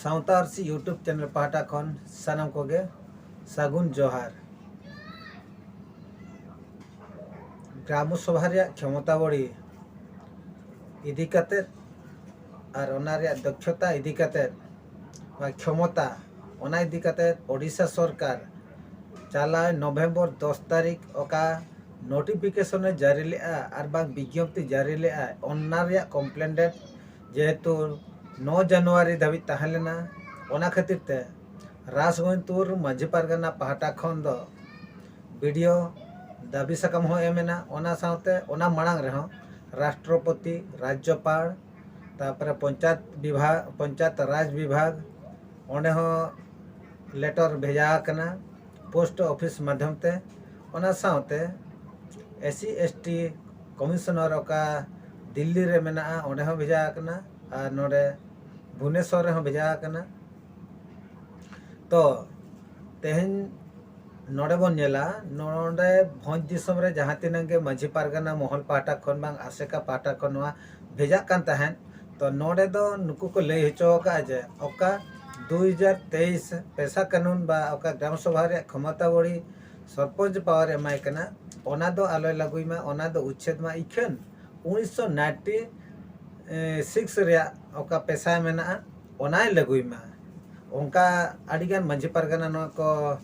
ᱥᱟᱶᱛᱟ ᱟᱹᱨᱥᱤ YouTube channel ᱯᱟᱦᱴᱟ ᱠᱷᱚᱱ ᱥᱟᱱᱟᱢ ᱠᱚᱜᱮ ᱥᱟᱹᱜᱩᱱ ᱡᱚᱦᱟᱨ ᱜᱨᱟᱢ ᱥᱚᱵᱷᱟ ᱨᱮᱭᱟᱜ ᱠᱷᱮᱢᱚᱛᱟ ᱵᱚᱲᱤ ᱤᱫᱤ ᱠᱟᱛᱮ ᱟᱨ ᱚᱱᱟ ᱨᱮᱭᱟᱜ ᱫᱚᱠᱷᱚᱛᱟ ᱤᱫᱤ ᱠᱟᱛᱮ ᱵᱟ ᱠᱷᱮᱢᱚᱛᱟ ᱚᱱᱟ ᱤᱫᱤ ᱠᱟᱛᱮ ᱳᱰᱤᱥᱟ ᱥᱚᱨᱠᱟᱨ ᱪᱟᱞᱟᱣ ᱱᱚᱵᱷᱮᱢᱵᱚᱨ ᱫᱚᱥ ᱛᱟᱹᱨᱤᱠᱷ ᱚᱠᱟ ᱱᱳᱴᱤᱯᱷᱤᱠᱮᱥᱚᱱᱮ ᱡᱟᱹᱨᱤ ᱞᱮᱫᱼᱟ ᱟᱨ ᱵᱟᱝ ᱵᱤᱡᱽᱧᱚᱯᱛᱤ ᱡᱟᱹᱨᱤ ᱞᱮᱫᱼᱟ ᱚᱱᱟ ᱨᱮᱭᱟᱜ ᱠᱚᱢᱯᱞᱮᱱᱰᱮᱰ ᱡᱮᱦᱮᱛᱩ ᱱᱚ ᱡᱟᱱᱩᱣᱟᱨᱤ ᱫᱷᱟᱹᱵᱤᱡ ᱛᱟᱦᱮᱸ ᱞᱮᱱᱟ ᱚᱱᱟ ᱠᱷᱟᱹᱛᱤᱨ ᱛᱮ ᱨᱟᱥᱜᱚᱱᱯᱩᱨ ᱢᱟᱹᱡᱷᱤ ᱯᱟᱨᱜᱟᱱᱟ ᱯᱟᱦᱴᱟ ᱠᱷᱚᱱ ᱫᱚ ᱵᱤᱰᱤᱭᱳ ᱫᱟᱹᱵᱤ ᱥᱟᱠᱟᱢ ᱦᱚᱸ ᱮᱢ ᱮᱱᱟ ᱚᱱᱟ ᱥᱟᱶᱛᱮ ᱚᱱᱟ ᱢᱟᱲᱟᱝ ᱨᱮᱦᱚᱸ ᱨᱟᱥᱴᱨᱚᱯᱚᱛᱤ ᱨᱟᱡᱽᱡᱚᱯᱟᱲ ᱛᱟᱨᱯᱚᱨᱮ ᱯᱚᱧᱪᱟᱭᱮᱛ ᱵᱤᱵᱷᱟᱜᱽ ᱯᱚᱧᱪᱟᱭᱮᱛ ᱨᱟᱡᱽ ᱵᱤᱵᱷᱟᱜᱽ ᱚᱸᱰᱮ ᱦᱚᱸ ᱞᱮᱴᱚᱨ ᱵᱷᱮᱡᱟ ᱟᱠᱟᱱᱟ ᱯᱳᱥᱴ ᱚᱯᱷᱤᱥ ᱢᱟᱫᱽᱫᱷᱚᱢ ᱛᱮ ᱚᱱᱟ ᱥᱟᱶᱛᱮ S C S T commissioner ᱚᱠᱟ ᱫᱤᱞᱞᱤ ᱨᱮ ᱢᱮᱱᱟᱜᱼᱟ ᱚᱸᱰᱮ ᱦᱚᱸ ᱵᱷᱮᱡᱟ ᱟᱠᱟᱱᱟ ᱟᱨ ᱱᱚᱰᱮ ᱵᱷᱩᱵᱽᱱᱮᱥᱚᱨ ᱨᱮᱦᱚᱸ ᱵᱷᱮᱡᱟ ᱟᱠᱟᱱᱟ ᱛᱚ ᱛᱮᱦᱮᱧ ᱱᱚᱰᱮ ᱵᱚᱱ ᱧᱮᱞᱟ ᱱᱚᱰᱮ ᱵᱷᱚᱸᱡᱽ ᱫᱤᱥᱚᱢ ᱨᱮ ᱡᱟᱦᱟᱸ ᱛᱤᱱᱟᱹᱜ ᱜᱮ ᱢᱟᱺᱡᱷᱤ ᱯᱟᱨᱜᱟᱱᱟ ᱢᱚᱦᱚᱞ ᱯᱟᱦᱴᱟ ᱠᱷᱚᱱ ᱵᱟᱝ ᱟᱥᱮᱠᱟ ᱯᱟᱦᱴᱟ ᱠᱷᱚᱱ ᱱᱚᱣᱟ ᱵᱷᱮᱡᱟᱜ ᱠᱟᱱ ᱛᱟᱦᱮᱸᱫ ᱛᱚ ᱱᱚᱰᱮ ᱫᱚ ᱱᱩᱠᱩ ᱠᱚ ᱞᱟᱹᱭ ᱦᱚᱪᱚ ᱟᱠᱟᱫᱼᱟ ᱡᱮ ᱚᱠᱟ ᱫᱩ ᱦᱟᱡᱟᱨ ᱛᱮᱭᱤᱥ ᱯᱮᱥᱟ ᱠᱟᱹᱱᱩᱱ ᱵᱟ ᱚᱠᱟ ᱜᱨᱟᱢ ᱥᱚᱵᱷᱟ ᱨᱮᱭᱟᱜ ᱠᱷᱚᱢᱚᱛᱟ ᱵᱚᱲᱤ ᱥᱚᱨᱯᱚᱧᱪ ᱯᱟᱣᱟᱨ ᱮᱢᱟᱭ ᱠᱟᱱᱟ ᱚᱱᱟ ᱫᱚ ᱟᱞᱚᱭ ᱞᱟᱹᱜᱩᱭ ᱢᱟ ᱚᱱᱟ ᱫᱚ ᱩᱪᱪᱷᱮᱫ ᱢᱟ ᱤᱠᱷᱟᱹᱱ ᱩᱱᱤᱥᱥᱚ ᱱᱟᱭᱤᱱᱴᱤ ᱥᱤᱠᱥ ᱨᱮᱭᱟᱜ ᱚᱠᱟ ᱯᱮᱥᱟ ᱢᱮᱱᱟᱜᱼᱟ ᱚᱱᱟᱭ ᱞᱟᱹᱜᱩᱭ ᱢᱟ ᱚᱱᱠᱟ ᱟᱹᱰᱤᱜᱟᱱ ᱢᱟᱺᱡᱷᱤ ᱯᱟᱨᱜᱟᱱᱟ ᱱᱚᱣᱟ ᱠᱚ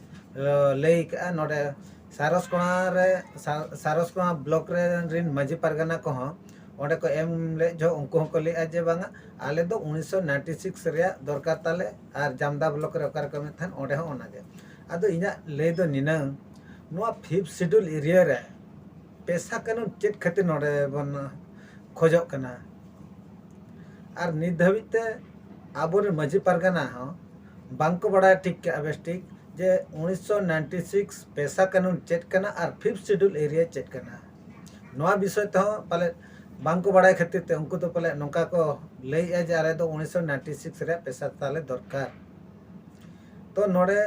ᱞᱟᱹᱭ ᱟᱠᱟᱫᱼᱟ ᱱᱚᱰᱮ ᱥᱟᱨᱚᱥᱠᱚᱬᱟ ᱨᱮ ᱥᱟᱨᱚᱥᱠᱚᱬᱟ ᱵᱞᱚᱠ ᱨᱮᱱ ᱢᱟᱺᱡᱷᱤ ᱯᱟᱨᱜᱟᱱᱟ ᱠᱚᱦᱚᱸ ᱚᱸᱰᱮ ᱠᱚ ᱮᱢ ᱞᱮᱫ ᱡᱚᱦᱚᱜ ᱩᱱᱠᱩ ᱦᱚᱸᱠᱚ ᱞᱟᱹᱭᱮᱫᱼᱟ ᱡᱮ ᱵᱟᱝᱟ ᱟᱞᱮ ᱫᱚ ᱩᱱᱤᱥᱥᱚ ᱱᱟᱭᱤᱱᱴᱤ ᱥᱤᱠᱥ ᱨᱮᱭᱟᱜ ᱫᱚᱨᱠᱟᱨ ᱛᱟᱞᱮ ᱟᱨ ᱡᱟᱢᱫᱟ ᱵᱞᱚᱠ ᱨᱮ ᱚᱠᱟᱨᱮ ᱠᱚ ᱮᱢᱮᱫ ᱛᱟᱦᱮᱸᱫ ᱚᱸᱰᱮ ᱦᱚᱸ ᱚᱱᱟᱜᱮ ᱟᱫᱚ ᱤᱧᱟᱹᱜ ᱞᱟᱹᱭ ᱫᱚ ᱱᱤᱱᱟᱹᱝ ᱱᱚᱣᱟ ᱯᱷᱤᱯᱛᱷ ᱥᱤᱰᱩᱞ ᱮᱨᱤᱭᱟ ᱨᱮ ᱯᱮᱥᱟ ᱠᱟᱹᱱᱩᱱ ᱪᱮᱫ ᱠᱷᱟᱹᱛᱤᱨ ᱱᱚᱰᱮ ᱵᱚᱱ ᱠᱷᱚᱡᱚᱜ ᱠᱟᱱᱟ ᱟᱨ ᱱᱤᱛ ᱫᱷᱟᱹᱵᱤᱡ ᱛᱮ ᱟᱵᱚᱨᱮᱱ ᱢᱟᱺᱡᱷᱤ ᱯᱟᱨᱜᱟᱱᱟ ᱦᱚᱸ ᱵᱟᱝᱠᱚ ᱵᱟᱲᱟᱭ ᱴᱷᱤᱠ ᱠᱟᱜᱼᱟ ᱵᱮᱥ ᱴᱷᱤᱠ ᱡᱮ ᱩᱱᱤᱥᱥᱚ ᱱᱟᱭᱤᱱᱴᱤ ᱥᱤᱠᱥ ᱯᱮᱥᱟ ᱠᱟᱹᱱᱩᱱ ᱪᱮᱫ ᱠᱟᱱᱟ ᱟᱨ ᱯᱷᱤᱯᱛᱷ ᱥᱤᱰᱩᱞ ᱮᱨᱤᱭᱟ ᱪᱮᱫ ᱠᱟᱱᱟ ᱱᱚᱣᱟ ᱵᱤᱥᱚᱭ ᱛᱮᱦᱚᱸ ᱯᱟᱞᱮᱫ ᱵᱟᱝᱠᱚ ᱵᱟᱲᱟᱭ ᱠᱷᱟᱹᱛᱤᱨ ᱛᱮ ᱩᱱᱠᱩ ᱫᱚ ᱯᱟᱞᱮᱫ ᱱᱚᱝᱠᱟ ᱠᱚ ᱞᱟᱹᱭᱮᱜᱼᱟ ᱡᱮ ᱟᱞᱮ ᱫᱚ ᱩᱱᱤᱥᱥᱚ ᱱᱟᱭᱤᱱᱴᱤ ᱥᱤᱠᱥ ᱨᱮᱭᱟᱜ ᱯᱮᱥᱟ ᱛᱟᱞᱮ ᱫᱚᱨᱠᱟᱨ ᱛᱚ ᱱᱚᱰᱮ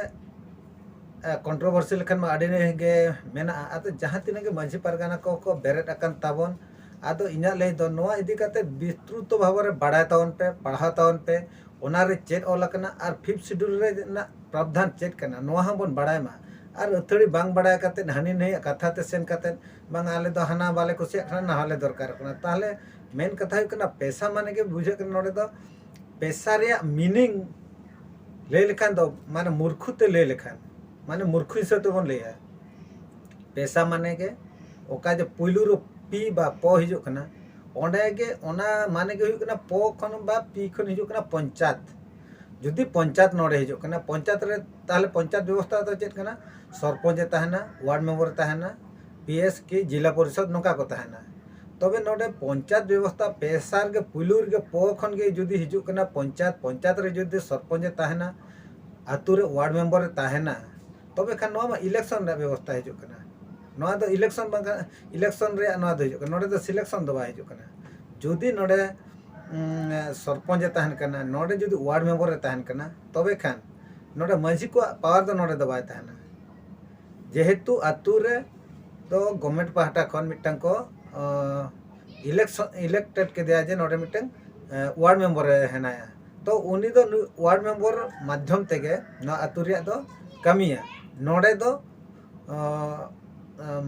ᱠᱚᱱᱴᱨᱳᱵᱷᱟᱨᱥᱤ ᱞᱮᱠᱷᱟᱱ ᱢᱟ ᱟᱹᱰᱤ ᱜᱮ ᱢᱮᱱᱟᱜᱼᱟ ᱟᱫᱚ ᱡᱟᱦᱟᱸ ᱛᱤᱱᱟᱹᱜ ᱜᱮ ᱢᱟᱺᱡᱷᱤ ᱯᱟᱨᱜᱟᱱᱟ ᱠᱚ ᱠᱚ ᱵᱮᱨᱮᱫ ᱟᱠᱟᱱ ᱛᱟᱵᱚᱱ ᱟᱫᱚ ᱤᱧᱟᱹᱜ ᱞᱟᱹᱭ ᱫᱚ ᱱᱚᱣᱟ ᱤᱫᱤ ᱠᱟᱛᱮ ᱵᱤᱥᱛᱨᱩᱛᱚ ᱵᱷᱟᱵᱮ ᱨᱮ ᱵᱟᱲᱟᱭ ᱛᱟᱵᱚᱱ ᱯᱮ ᱯᱟᱲᱦᱟᱣ ᱛᱟᱵᱚᱱ ᱯᱮ ᱚᱱᱟᱨᱮ ᱪᱮᱫ ᱚᱞ ᱟᱠᱟᱱᱟ ᱟᱨ ᱯᱷᱤᱯᱛᱷ ᱥᱤᱰᱩᱞ ᱨᱮᱱᱟᱜ ᱯᱨᱟᱵᱽᱫᱷᱟᱱ ᱪᱮᱫ ᱠᱟᱱᱟ ᱱᱚᱣᱟ ᱦᱚᱸ ᱵᱚᱱ ᱵᱟᱲᱟᱭ ᱢᱟ ᱟᱨ ᱟᱹᱛᱷᱟᱹᱲᱤ ᱵᱟᱝ ᱵᱟᱲᱟᱭ ᱠᱟᱛᱮ ᱦᱟᱹᱱᱤ ᱱᱟᱹᱭᱟᱜ ᱠᱟᱛᱷᱟ ᱛᱮ ᱥᱮᱱ ᱠᱟᱛᱮ ᱵᱟᱝ ᱟᱞᱮ ᱫᱚ ᱦᱟᱱᱟ ᱵᱟᱞᱮ ᱠᱩᱥᱤᱭᱟᱜ ᱠᱟᱱᱟ ᱱᱟᱣᱟ ᱞᱮ ᱫᱚᱨᱠᱟᱨᱚᱜ ᱠᱟᱱᱟ ᱛᱟᱦᱚᱞᱮ ᱢᱮᱱ ᱠᱟᱛᱷᱟ ᱦᱩᱭᱩᱜ ᱠᱟᱱᱟ ᱯᱮᱥᱟ ᱢᱟᱱᱮ ᱜᱮ ᱵᱩᱡᱷᱟᱹᱜ ᱠᱟᱱᱟ ᱱᱚᱰᱮ ᱫᱚ ᱯᱮᱥᱟ ᱨᱮᱭᱟᱜ ᱢᱤᱱᱤᱝ ᱞᱟᱹᱭ ᱞᱮᱠᱷᱟᱱ ᱫᱚ ᱢᱟᱱᱮ ᱢᱩᱨᱠᱷᱩ ᱛᱮ ᱞᱟᱹᱭ ᱞᱮᱠᱷᱟᱱ ᱢᱟᱱᱮ ᱢᱩᱨᱠᱷᱩ ᱦᱤᱥᱟᱹᱵ ᱛᱮᱵᱚᱱ ᱞᱟᱹᱭᱟ ᱯᱮᱥᱟ ᱢᱟᱱᱮ ᱜᱮ ᱚᱠᱟ ᱡᱮ ᱯᱩᱭᱞᱩ ᱨᱮ ᱯᱤ ᱵᱟ ᱯᱚ ᱦᱤᱡᱩᱜ ᱠᱟᱱᱟ ᱚᱸᱰᱮ ᱜᱮ ᱚᱱᱟ ᱢᱟᱱᱮ ᱜᱮ ᱦᱩᱭᱩᱜ ᱠᱟᱱᱟ ᱯᱚ ᱠᱷᱚᱱ ᱵᱟ ᱯᱤ ᱠᱷᱚᱱ ᱦᱤᱡᱩᱜ ᱠᱟᱱᱟ ᱯᱚᱧᱪᱟᱭᱮᱛ ᱡᱩᱫᱤ ᱯᱚᱧᱪᱟᱭᱮᱛ ᱱᱚᱰᱮ ᱦᱤᱡᱩᱜ ᱠᱟᱱᱟ ᱯᱚᱧᱪᱟᱭᱮᱛ ᱨᱮ ᱛᱟᱦᱚᱞᱮ ᱯᱚᱧᱪᱟᱭᱮᱛ ᱵᱮᱵᱚᱥᱛᱟ ᱫᱚ ᱪᱮᱫ ᱠᱟᱱᱟ ᱥᱚᱨᱯᱚᱧᱪ ᱮ ᱛᱟᱦᱮᱱᱟ ᱳᱣᱟᱨᱰ ᱢᱮᱢᱵᱚᱨ ᱮ ᱛᱟᱦᱮᱱᱟ ᱯᱤ ᱮᱥ ᱠᱤ ᱡᱮᱞᱟ ᱯᱚᱨᱤᱥᱚᱫᱽ ᱱᱚᱝᱠᱟ ᱠᱚ ᱛᱟᱦᱮᱱᱟ ᱛᱚᱵᱮ ᱱᱚᱰᱮ ᱯᱚᱧᱪᱟᱭᱮᱛ ᱵᱮᱵᱚᱥᱛᱟ ᱯᱮᱥᱟ ᱨᱮᱜᱮ ᱯᱩᱭᱞᱩ ᱨᱮᱜᱮ ᱯᱚ ᱠᱷᱚᱱ ᱜᱮ ᱡᱩᱫᱤ ᱦᱤᱡᱩᱜ ᱠᱟᱱᱟ ᱯᱚᱧᱪᱟᱭᱮᱛ ᱯᱚᱧᱪᱟᱭᱮᱛ ᱨᱮ ᱡᱩᱫᱤ ᱥᱚᱨᱯᱚᱧᱪ ᱮ ᱛᱟᱦᱮᱱᱟ ᱟᱛᱳ ᱨᱮ ᱳᱣᱟᱨᱰ ᱢᱮᱢᱵᱚᱨ ᱮ ᱛᱟᱦᱮᱱᱟ ᱛᱚᱵᱮ ᱠᱷᱟᱱ ᱱᱚᱣᱟ ᱢᱟ ᱤᱞᱮᱠᱥᱚᱱ ᱨᱮᱭᱟᱜ ᱵᱮᱵᱚᱥᱛᱟ ᱦᱤᱡᱩᱜ ᱠᱟᱱᱟ ᱱᱚᱣᱟ ᱫᱚ ᱤᱞᱮᱠᱥᱚᱱ ᱵᱟᱝ ᱠᱟᱱᱟ ᱤᱞᱮᱠᱥᱚᱱ ᱨᱮᱭᱟᱜ ᱱᱚᱣᱟ ᱫᱚ ᱦᱤᱡᱩᱜ ᱠᱟᱱᱟ ᱱᱚᱰᱮ ᱫᱚ ᱥᱤᱞᱮᱠᱥᱚᱱ ᱫᱚ ᱵᱟᱭ ᱦᱤᱡᱩᱜ ᱠᱟᱱᱟ ᱡᱩᱫᱤ ᱱᱚᱰᱮ ᱥᱚᱨᱯᱚᱧᱪ ᱮ ᱛᱟᱦᱮᱱ ᱠᱟᱱᱟ ᱱᱚᱰᱮ ᱡᱩᱫᱤ ᱣᱟᱨᱰ ᱢᱮᱢᱵᱚᱨ ᱮ ᱛᱟᱦᱮᱱ ᱠᱟᱱᱟ ᱛᱚᱵᱮ ᱠᱷᱟᱱ ᱱᱚᱰᱮ ᱢᱟᱹᱡᱷᱤ ᱠᱚᱣᱟᱜ ᱯᱟᱣᱟᱨ ᱫᱚ ᱱᱚᱰᱮ ᱫᱚ ᱵᱟᱭ ᱛᱟᱦᱮᱱᱟ ᱡᱮᱦᱮᱛᱩ ᱟᱛᱳ ᱨᱮ ᱫᱚ ᱜᱚᱵᱷᱢᱮᱱᱴ ᱯᱟᱦᱴᱟ ᱠᱷᱚᱱ ᱢᱤᱫᱴᱟᱝ ᱠᱚ ᱤᱞᱮᱠᱥᱚᱱ ᱤᱞᱮᱠᱴᱮᱰ ᱠᱮᱫᱮᱭᱟ ᱡᱮ ᱱᱚᱰᱮ ᱢᱤᱫᱴᱟᱝ ᱣᱟᱨᱰ ᱢᱮᱢᱵᱚᱨ ᱮ ᱦᱮᱱᱟᱭᱟ ᱛᱚ ᱩᱱᱤ ᱫᱚ ᱱᱩᱭ ᱣᱟᱨᱰ ᱢᱮᱢᱵᱚᱨ ᱢᱟᱫᱽᱫᱷᱚᱢ ᱛᱮᱜᱮ ᱱᱚᱣᱟ ᱟᱹᱛᱩ ᱨᱮᱭᱟᱜ ᱫᱚ ᱠᱟᱹᱢᱤᱭᱟ ᱱᱚᱰᱮ ᱫᱚ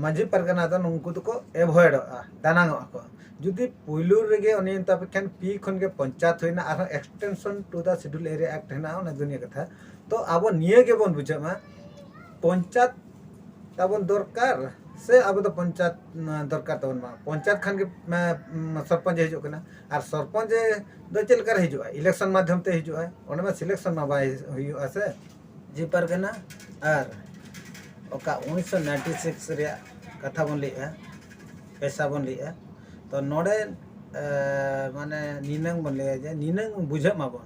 ᱢᱟᱺᱡᱷᱤ ᱯᱟᱨᱜᱟᱱᱟ ᱫᱚ ᱱᱩᱠᱩ ᱫᱚᱠᱚ ᱮᱵᱷᱚᱭᱮᱰᱚᱜᱼᱟ ᱫᱟᱱᱟᱝᱚᱜᱼᱟ ᱠᱚ ᱡᱩᱫᱤ ᱯᱩᱭᱞᱩ ᱨᱮᱜᱮ ᱩᱱᱤ ᱢᱮᱛᱟ ᱯᱮ ᱠᱷᱟᱱ ᱯᱤ ᱠᱷᱚᱱ ᱜᱮ ᱯᱚᱧᱪᱟᱭᱮᱛ ᱦᱩᱭᱱᱟ ᱟᱨᱦᱚᱸ extension to the schedule area act ᱦᱮᱱᱟᱜᱼᱟ ᱚᱱᱟ ᱫᱩᱱᱤᱭᱟᱹ ᱠᱟᱛᱷᱟ ᱛᱚ ᱟᱵᱚ ᱱᱤᱭᱟᱹ ᱜᱮᱵᱚᱱ ᱵᱩᱡᱷᱟᱹᱜ ᱢᱟ ᱯᱚᱧᱪᱟᱭᱮᱛ ᱛᱟᱵᱚᱱ ᱫᱚᱨᱠᱟᱨ ᱥᱮ ᱟᱵᱚ ᱫᱚ ᱯᱚᱧᱪᱟᱭᱮᱛ ᱫᱚᱨᱠᱟᱨ ᱛᱟᱵᱚᱱ ᱵᱟᱝ ᱯᱚᱧᱪᱟᱭᱮᱛ ᱠᱷᱟᱱ ᱜᱮ ᱥᱚᱨᱯᱚᱧᱪ ᱦᱤᱡᱩᱜ ᱠᱟᱱᱟ ᱟᱨ ᱥᱚᱨᱯᱚᱧᱪ ᱫᱚ ᱪᱮᱫ ᱞᱮᱠᱟᱨᱮ ᱦᱤᱡᱩᱜᱼᱟ ᱤᱞᱮᱠᱥᱚᱱ ᱢᱟᱫᱽᱫᱷᱚᱢ ᱛᱮ ᱦᱤᱡᱩᱜᱼᱟ ᱚᱸᱰᱮ ᱢᱟ ᱥᱤᱞᱮᱠᱥᱚᱱ ᱢᱟ ᱵᱟᱭ ᱦᱩᱭᱩᱜᱼᱟ ᱥᱮ ᱡᱮ ᱯᱟᱨᱜᱟᱱᱟ ᱟᱨ ᱚᱠᱟ ᱩᱱᱤᱥᱥᱚ ᱱᱟᱭᱤᱱᱴᱤ ᱥᱤᱠᱥ ᱨᱮᱭᱟᱜ ᱠᱟᱛᱷᱟ ᱵᱚᱱ ᱞᱟᱹᱭᱮᱜᱼᱟ ᱯᱮᱥᱟ ᱵᱚᱱ ᱞᱟᱹᱭᱮᱜᱼᱟ ᱛᱚ ᱱᱚᱰᱮ ᱢᱟᱱᱮ ᱱᱤᱱᱟᱹᱝ ᱵᱚᱱ ᱞᱟᱹᱭᱟ ᱡᱮ ᱱᱤᱱᱟᱹᱝ ᱵᱩᱡᱷᱟᱹᱜ ᱢᱟᱵᱚᱱ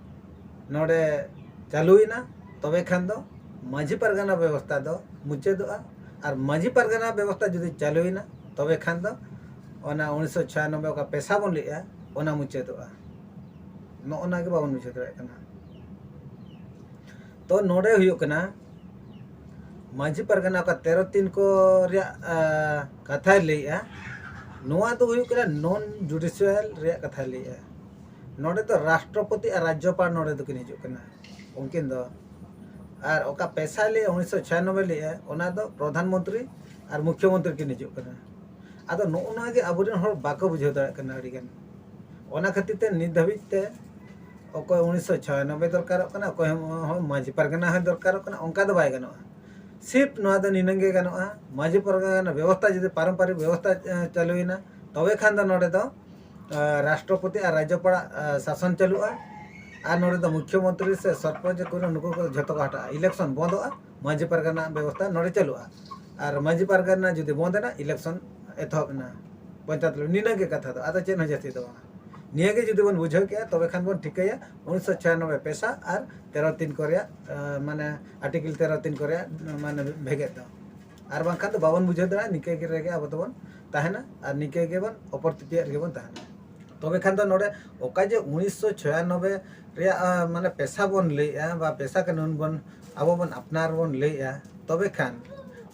ᱱᱚᱰᱮ ᱪᱟᱹᱞᱩᱭᱮᱱᱟ ᱛᱚᱵᱮ ᱠᱷᱟᱱ ᱫᱚ ᱢᱟᱹᱡᱷᱤ ᱯᱟᱨᱜᱟᱱᱟ ᱵᱮᱵᱚᱥᱛᱟ ᱫᱚ ᱢᱩᱪᱟᱹᱫᱚᱜᱼᱟ ᱟᱨ ᱢᱟᱹᱡᱷᱤ ᱯᱟᱨᱜᱟᱱᱟ ᱵᱮᱵᱚᱥᱛᱟ ᱡᱩᱫᱤ ᱪᱟᱹᱞᱩᱭᱮᱱᱟ ᱛᱚᱵᱮ ᱠᱷᱟᱱ ᱫᱚ ᱚᱱᱟ ᱩᱱᱤᱥᱥᱚ ᱪᱷᱤᱭᱟᱱᱚᱵᱵᱮ ᱚᱠᱟ ᱯᱮᱥᱟ ᱵᱚᱱ ᱞᱟᱹᱭᱮᱜᱼᱟ ᱚᱱᱟ ᱢᱩᱪᱟᱹᱫᱚᱜᱼᱟ ᱱᱚᱜᱼᱚ ᱱᱟ ᱜᱮ ᱵᱟᱵᱚᱱ ᱢᱩᱪᱟᱹᱫ ᱫᱟᱲᱮᱭᱟᱜ ᱠᱟᱱᱟ ᱛᱚ ᱱᱚᱰᱮ ᱦᱩᱭᱩᱜ ᱠᱟᱱᱟ ᱢᱟᱹᱡᱷᱤ ᱯᱟᱨᱜᱟᱱᱟ ᱚᱠᱟ ᱛᱮᱨᱚ ᱛᱤᱱ ᱠᱚ ᱨᱮᱭᱟᱜ ᱠᱟᱛᱷᱟᱭ ᱞᱟᱹᱭᱮᱜᱼᱟ ᱱᱚᱣᱟ ᱫᱚ ᱦᱩᱭᱩᱜ ᱠᱟᱱᱟ ᱱᱚᱱ ᱡᱩᱰᱤᱥᱤᱭᱟᱞ ᱨᱮᱭᱟᱜ ᱠᱟᱛᱷᱟᱭ ᱞᱟᱹᱭᱮᱜᱼᱟ ᱱᱚᱰᱮ ᱫᱚ ᱨᱟᱥᱴᱨᱚᱯᱚᱛᱤ ᱟᱨ ᱨᱟᱡᱽᱡᱚᱯᱟᱲ ᱱᱚᱰᱮ ᱫᱚᱠᱤᱱ ᱦᱤᱡᱩᱜ ᱠᱟᱱᱟ ᱩᱱᱠᱤᱱ ᱫᱚ ᱟᱨ ᱚᱠᱟ ᱯᱮᱥᱟᱭ ᱞᱮ ᱩᱱᱤᱥᱥᱚ ᱪᱷᱤᱭᱟᱱᱚᱵᱵᱳᱭ ᱞᱮᱜᱼᱟ ᱚᱱᱟ ᱫᱚ ᱯᱨᱚᱫᱷᱟᱱ ᱢᱚᱱᱛᱨᱤ ᱟᱨ ᱢᱩᱠᱷᱭᱚ ᱢᱚᱱᱛᱨᱤ ᱠᱤᱱ ᱦᱤᱡᱩᱜ ᱠᱟᱱᱟ ᱟᱫᱚ ᱱᱚᱜᱼᱚ ᱱᱚᱣᱟ ᱜᱮ ᱟᱵᱚᱨᱮᱱ ᱦᱚᱲ ᱵᱟᱠᱚ ᱵᱩᱡᱷᱟᱹᱣ ᱫᱟᱲᱮᱭᱟᱜ ᱠᱟᱱᱟ ᱟᱹᱰᱤ ᱜᱟᱱ ᱚᱱᱟ ᱠᱷᱟᱹᱛᱤᱨ ᱛᱮ ᱱᱤᱛ ᱫᱷᱟᱹᱵᱤᱡ ᱛᱮ ᱚᱠᱚᱭ ᱩᱱᱤᱥᱥᱚ ᱪᱷᱤᱭᱟᱱᱚᱵᱵᱳᱭ ᱫᱚᱨᱠᱟᱨᱚᱜ ᱠᱟᱱᱟ ᱚᱠᱚᱭ ᱦᱚᱸ ᱢᱟᱹᱡᱷᱤ ᱯᱟᱨᱜᱟᱱᱟ ᱦᱚᱸ ᱫᱚᱨᱠᱟᱨᱚᱜ ᱠᱟᱱᱟ ᱚᱱᱠᱟ ᱫᱚ ᱵᱟᱭ ᱜᱟᱱᱚᱜᱼᱟ ᱥᱤᱯ ᱱᱚᱣᱟ ᱫᱚ ᱱᱤᱱᱟᱹᱝ ᱜᱮ ᱜᱟᱱᱚᱜᱼᱟ ᱢᱟᱹᱡᱷᱤ ᱯᱟᱨᱜᱟᱱᱟ ᱵᱮᱵᱚᱥᱛᱷᱟ ᱡᱩᱫᱤ ᱯᱟᱨᱚᱢᱯᱟᱨᱤᱠ ᱵᱮᱵᱚᱥᱛᱷᱟ ᱪᱟᱹᱞᱩᱭᱮᱱᱟ ᱛᱚᱵᱮ ᱠᱷᱟᱱ ᱫᱚ ᱱᱚᱰᱮ ᱫᱚ ᱨᱟᱥᱴᱨᱚᱯᱚᱛᱤ ᱟᱨ ᱨᱟᱡᱽᱡᱚᱯᱟᱲ ᱟᱜ ᱥᱟᱥᱚᱱ ᱪᱟᱹᱞᱩᱜᱼᱟ ᱟᱨ ᱱᱚᱰᱮ ᱫᱚ ᱢᱩᱠᱷᱭᱚ ᱢᱚᱱᱛᱨᱤ ᱥᱮ ᱥᱚᱨᱯᱚᱧᱪ ᱠᱚ ᱱᱩᱠᱩ ᱠᱚ ᱡᱷᱚᱛᱚ ᱠᱚ ᱦᱟᱴᱟᱜᱼᱟ ᱤᱞᱮᱠᱥᱚᱱ ᱵᱚᱱᱫᱚᱜᱼᱟ ᱢᱟᱺᱡᱷᱤ ᱯᱟᱨᱜᱟᱱᱟ ᱨᱮᱱᱟᱜ ᱵᱮᱵᱚᱥᱛᱟ ᱱᱚᱰᱮ ᱪᱟᱹᱞᱩᱜᱼᱟ ᱟᱨ ᱢᱟᱺᱡᱷᱤ ᱯᱟᱨᱜᱟᱱᱟ ᱡᱩᱫᱤ ᱵᱚᱱᱫ ᱮᱱᱟ ᱤᱞᱮᱠᱥᱚᱱ ᱮᱛᱚᱦᱚᱵ ᱮᱱᱟ ᱯᱚᱧᱪᱟᱭᱮᱛ ᱨᱮ ᱱᱤᱱᱟᱹ ᱜᱮ ᱠᱟᱛᱷᱟ ᱫᱚ ᱟᱫᱚ ᱪᱮᱫ ᱦᱚᱸ ᱡᱟᱹᱥᱛᱤ ᱫᱚ ᱵᱟᱝᱟ ᱱᱤᱭᱟᱹ ᱜᱮ ᱡᱩᱫᱤ ᱵᱚᱱ ᱵᱩᱡᱷᱟᱹᱣ ᱠᱮᱜᱼᱟ ᱛᱚᱵᱮ ᱠᱷᱟᱱ ᱵᱚᱱ ᱴᱷᱤᱠᱟᱹᱭᱟ ᱩᱱᱤᱥᱥᱚ ᱪᱷᱤᱭᱟᱱᱚᱵᱵᱳᱭ ᱯᱮᱥᱟ ᱟᱨ ᱛᱮᱨᱚ ᱛᱤᱱ ᱠᱚ ᱨᱮᱭᱟᱜ ᱢᱟᱱᱮ ᱟᱨᱴᱤᱠᱮᱞ ᱛᱮᱨᱚ ᱛᱤᱱ ᱠᱚ ᱨᱮᱭᱟᱜ ᱢᱟᱱᱮ ᱵᱷᱮᱜᱮᱫ ᱫᱚ ᱟᱨ ᱵᱟᱝᱠᱷᱟᱱ ᱫᱚ ᱵᱟᱵᱚᱱ ᱵᱩᱡᱷᱟᱹᱣ ᱫᱟᱲᱮᱭᱟᱜᱼᱟ ᱱᱤᱝᱠᱟᱹ ᱜᱮ ᱨᱮᱜᱮ ᱟᱵᱚ ᱫᱚᱵᱚᱱ ᱛᱟᱦᱮᱱᱟ ᱟᱨ ᱱᱤᱝᱠᱟᱹ ᱜᱮᱵᱚᱱ ᱚᱯᱚᱨ ᱛᱤᱛᱤᱭᱟᱜ ᱨᱮᱜᱮ ᱵᱚᱱ ᱛᱟᱦᱮᱱᱟ ᱛᱚᱵᱮ ᱠᱷᱟᱱ ᱫᱚ ᱱᱚᱰᱮ ᱚᱠᱟ ᱡᱮ ᱩᱱᱤᱥᱥᱚ ᱪᱷᱚᱭᱟᱱᱚᱵᱵᱮ ᱨᱮᱭᱟᱜ ᱢᱟᱱᱮ ᱯᱮᱥᱟ ᱵᱚᱱ ᱞᱟᱹᱭᱮᱜᱼᱟ ᱵᱟ ᱯᱮᱥᱟ ᱠᱟᱹᱱᱩᱱ ᱵᱚᱱ ᱟᱵᱚ ᱵᱚᱱ ᱟᱯᱱᱟᱨ ᱵᱚᱱ ᱞᱟᱹᱭᱮᱜᱼᱟ ᱛᱚᱵᱮ ᱠᱷᱟᱱ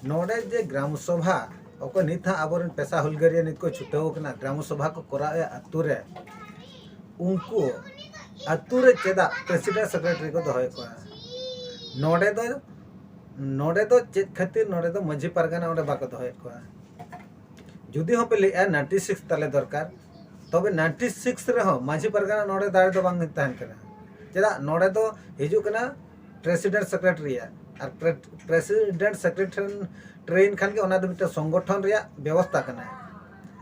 ᱱᱚᱰᱮ ᱡᱮ ᱜᱨᱟᱢ ᱥᱚᱵᱷᱟ ᱚᱠᱚᱭ ᱱᱤᱛ ᱦᱟᱸᱜ ᱟᱵᱚᱨᱮᱱ ᱯᱮᱥᱟ ᱦᱩᱞᱜᱟᱹᱨᱤᱭᱟᱹ ᱱᱤᱛ ᱠᱚ ᱪᱷᱩᱴᱟᱹᱣ ᱠᱟᱱᱟ ᱜᱨᱟᱢ ᱥᱚᱵᱷᱟ ᱠᱚ ᱠᱚᱨᱟᱣᱮᱜᱼᱟ ᱟᱛᱳ ᱨᱮ ᱩᱱᱠᱩ ᱟᱛᱳ ᱨᱮ ᱪᱮᱫᱟᱜ ᱯᱨᱮᱥᱤᱰᱮᱱᱴ ᱥᱮᱠᱨᱮᱴᱟᱨᱤ ᱠᱚ ᱫᱚᱦᱚᱭᱮᱫ ᱠᱚᱣᱟ ᱱᱚᱰᱮ ᱫᱚ ᱱᱚᱰᱮ ᱫᱚ ᱪᱮᱫ ᱠᱷᱟᱹᱛᱤᱨ ᱱᱚᱰᱮ ᱫᱚ ᱢᱟᱹᱡᱷᱤ ᱯᱟᱨᱜᱟᱱᱟ ᱚᱸᱰᱮ ᱵᱟᱠᱚ ᱫᱚᱦᱚᱭᱮᱫ ᱠᱚᱣᱟ ᱡᱩᱫᱤ ᱦᱚᱸ ᱯᱮ ᱞᱟᱹᱭᱮᱫᱼᱟ ᱱᱟᱭᱤᱱᱴᱤ ᱥᱤᱠᱥ ᱛᱟᱞᱮ ᱫᱚᱨᱠᱟᱨ ᱛᱚᱵᱮ ᱱᱟᱭᱤᱱᱴᱤ ᱥᱤᱠᱥ ᱨᱮᱦᱚᱸ ᱢᱟᱹᱡᱷᱤ ᱯᱟᱨᱜᱟᱱᱟ ᱱᱚᱰᱮ ᱫᱟᱲᱮ ᱫᱚ ᱵᱟᱝ ᱛᱟᱦᱮᱱ ᱠᱟᱱᱟ ᱪᱮᱫᱟᱜ ᱱᱚᱰᱮ ᱫᱚ ᱦᱤᱡᱩᱜ ᱠᱟᱱᱟ ᱯᱨᱮᱥᱤᱰᱮᱱᱴ ᱥᱮᱠᱨᱮᱴᱟᱨᱤᱭᱟᱜ ᱟᱨ ᱯᱨᱮᱥᱤᱰᱮᱱᱴ ᱥᱮᱠᱨᱮᱴᱟᱨᱤ ᱴᱨᱮᱱ ᱠᱷᱟᱱ ᱜᱮ ᱚᱱᱟ ᱫᱚ ᱢᱤᱫᱴᱟᱝ ᱥᱚᱝᱜᱚᱴᱷᱚᱱ ᱨᱮᱭᱟᱜ ᱵᱮᱵᱚᱥᱛᱟ ᱠᱟᱱᱟ